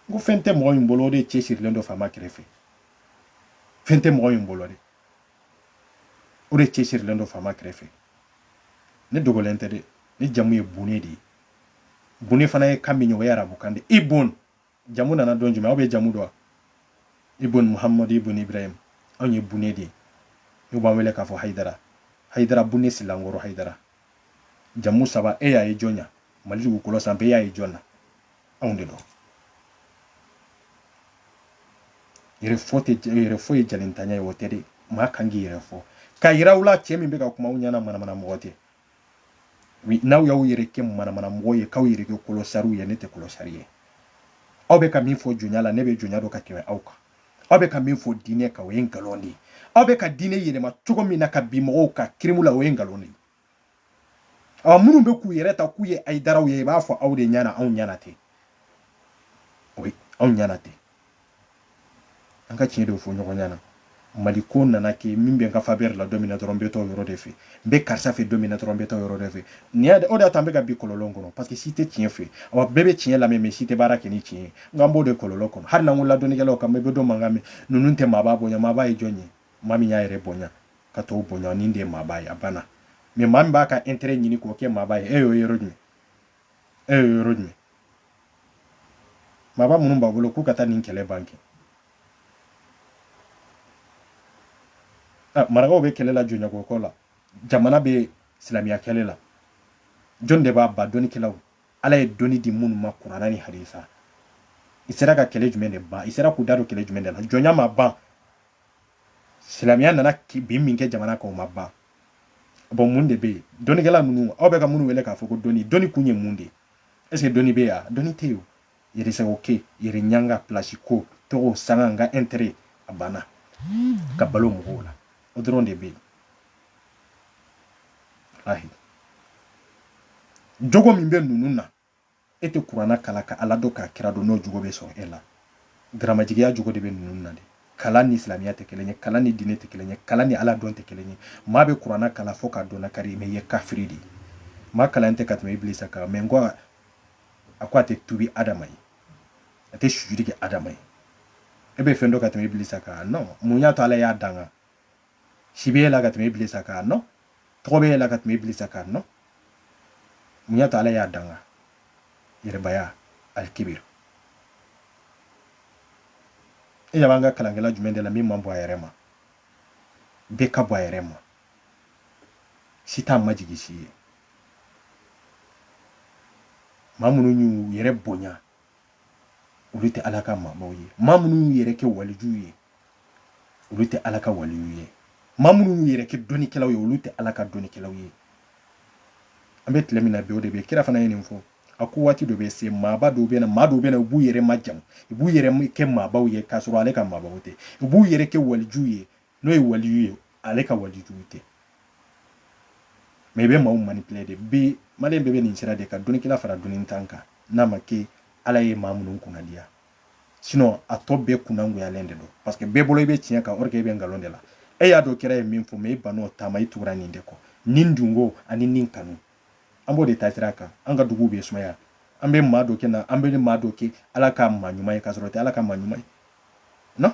n ko fɛn tɛ mɔgɔ min bolo o de cɛ sirilen don faama kɛrɛfɛ fɛn tɛ mɔgɔ min bolo de o de cɛ sirilen don faama kɛrɛfɛ ne dogolen tɛ dɛ ne jamu ye bune de ye bune fana ye kan min ye o ye arabukan de ibun jamu nana don jumɛn aw bɛ jamu dɔn ibun muhamadu ibun ibrahim anw ye bune de ye n'u b'an wele k'a fɔ hayidara hayidara bune silankɔrɔ hayidara jamu saba e y'a ye jɔn na mali dugukolo sanfɛ e y'a ye jɔn na anw de don yɛrɛfɔ tɛ yɛrɛfɔ ye jalintanya ye o tɛ dɛ maa kan k'i yɛrɛ fɔ k'a yira aw la cɛ min bɛ ka kuma aw ɲɛna manamana mɔgɔ tɛ n'aw y'aw yɛrɛ kɛ manamana mɔgɔ ye k'aw yɛrɛ kɛ kɔlɔsariw ye ne tɛ kɔlɔsari ye aw bɛ ka min fɔ jɔnya la ne bɛ jɔnya dɔn ka tɛmɛ aw kan aw bɛ ka min fɔ diinɛ kan o ye nkalon de ye aw bɛ ka diinɛ yɛlɛma cogo min na ka bi mɔgɔw ka kirimu la o ye nkalon de ye ɔ minnu bɛ k'u yɛrɛ ta k'u ye hayidaraw ye i b'a fɔ aw de ɲɛna anw ɲɛna tɛ o ye anw ɲɛna tɛ an ka tiɲɛ de fɔ ɲɔgɔn ɲɛna mali ko nana kɛ min bɛ n ka faveur la don min na dɔrɔn n bɛ taa o yɔrɔ de fɛ n bɛ karisa fɛ don min na dɔrɔn n bɛ taa o yɔrɔ de fɛ nin y'a o de y'a to an bɛ ka bin kɔlɔlɔ kɔnɔ parce que si tɛ tiɲɛ fɛ wa bɛɛ bɛ tiɲɛ lamɛn mais si tɛ baara kɛ ni tiɲɛ ye nka an b'o de kɔlɔlɔ kɔnɔ hali n'an ko la dɔnnikɛlaw kan i bɛ dɔ mankan mɛn ninnu tɛ maaba bonya maaba ye jɔn ye maa min y'a yɛrɛ bonya ka tɔw bonya ni de ye maaba ye a banna mais maa min b'a ka intérêt ɲini k'o kɛ maaba ye e y'o yɔrɔ jumɛn e ye yɔrɔ jumɛn maaba minnu b'a bolo k'u ka taa nin kɛlɛ ban kɛ ah, marakaw bɛ kɛlɛ la jɔnya ko ko la jamana bɛ silamɛya kɛlɛ la jɔn de b'a ban dɔnnikɛlaw ala ye dɔnni di minnu ma kurana ni hadisa i sera ka kɛlɛ jumɛn de ban i sera k'u da don kɛlɛ jumɛn de la jɔnya ma ban silamɛya nana bin min kɛ jamana kan o ma ban bon mun de bɛ yen dɔnnikɛla ninnu aw bɛ ka minnu wele k'a fɔ ko dɔnni dɔnni kun ye mun de ye est ce que dɔnni bɛ yen wa dɔnni tɛ yen yɛrɛsago kɛ yɛrɛ ɲanga pilasi ko tɔgɔ sanga n ka intérêt a banna ka balo mɔgɔw la o dɔrɔn de bɛ yen ayi jogo min bɛ ninnu na e tɛ kurana kalan ka ala dɔn k'a kira dɔn n'o jogo bɛ sɔrɔ e la garamajigiya jogo de bɛ ninnu na de kalan ni silamɛya tɛ kelen ye kalan ni diinɛ tɛ kelen ye kalan ni ala dɔn tɛ kelen ye maa bɛ kurana kalan fo k'a dɔn kari mais i ye kafiri de ye maa kalan tɛ ka tɛmɛ ibilisa kan mais nka a ko a tɛ tubi adama ye a tɛ sujudi kɛ adama ye e bɛ fɛn dɔn ka tɛmɛ ibilisa kan non mun y'a to ala y'a danga si b'e la ka tɛmɛ ibilisa kan non tɔgɔ b'e la ka tɛmɛ ibilisa kan non mun y'a to ala y'a danga yɛrɛbaya alikibir e ɲɛ b'an ka kalankɛla jumɛn de la min man bon a yɛrɛ ma bɛɛ ka bon a yɛrɛ ma si t'a majigi si ye maa minnu y'u yɛrɛ bonya olu tɛ ala ka maabaw ye maa minnu y'u yɛrɛ kɛ walijuw ye olu tɛ ala ka waliw ye maa minnu y'u yɛrɛ kɛ dɔnnikɛlaw ye olu tɛ ala ka dɔnnikɛlaw ye an bɛ tile min na bi o de bɛ kira fana ye nin fɔ a ko waati dɔ bɛ se maaba dɔw bɛ na maa dɔw bɛ na u b'u yɛrɛ majamu u b'u yɛrɛ kɛ maabaw ye k'a sɔrɔ ale ka maabaw tɛ u b'u yɛrɛ kɛ walijuw ye n'o ye waliyu ye ale ka walijuw tɛ mais i bɛ maaw manipuler de bi mali bɛɛ bɛ nin sira de kan dɔnnikɛla fara dɔnnintan kan n'a ma kɛ ala ye maa minnu kunnandiya sinon a tɔ bɛɛ kunnangoyalen de don parce que bɛɛ bolo i bɛ tiɲɛ kan or que i bɛ nkalon de la e y'a dɔn kira ye min fɔ mais i ban'o taama i tugura ni de kɔ ni dungo ani ni kanu an b'o de ta sira kan an ka dugu bɛ sumaya an bɛ maa dɔ kɛ na an bɛ maa dɔ kɛ ala ka maa ɲuman ye k'a sɔrɔ o tɛ ala ka maa ɲuman ye non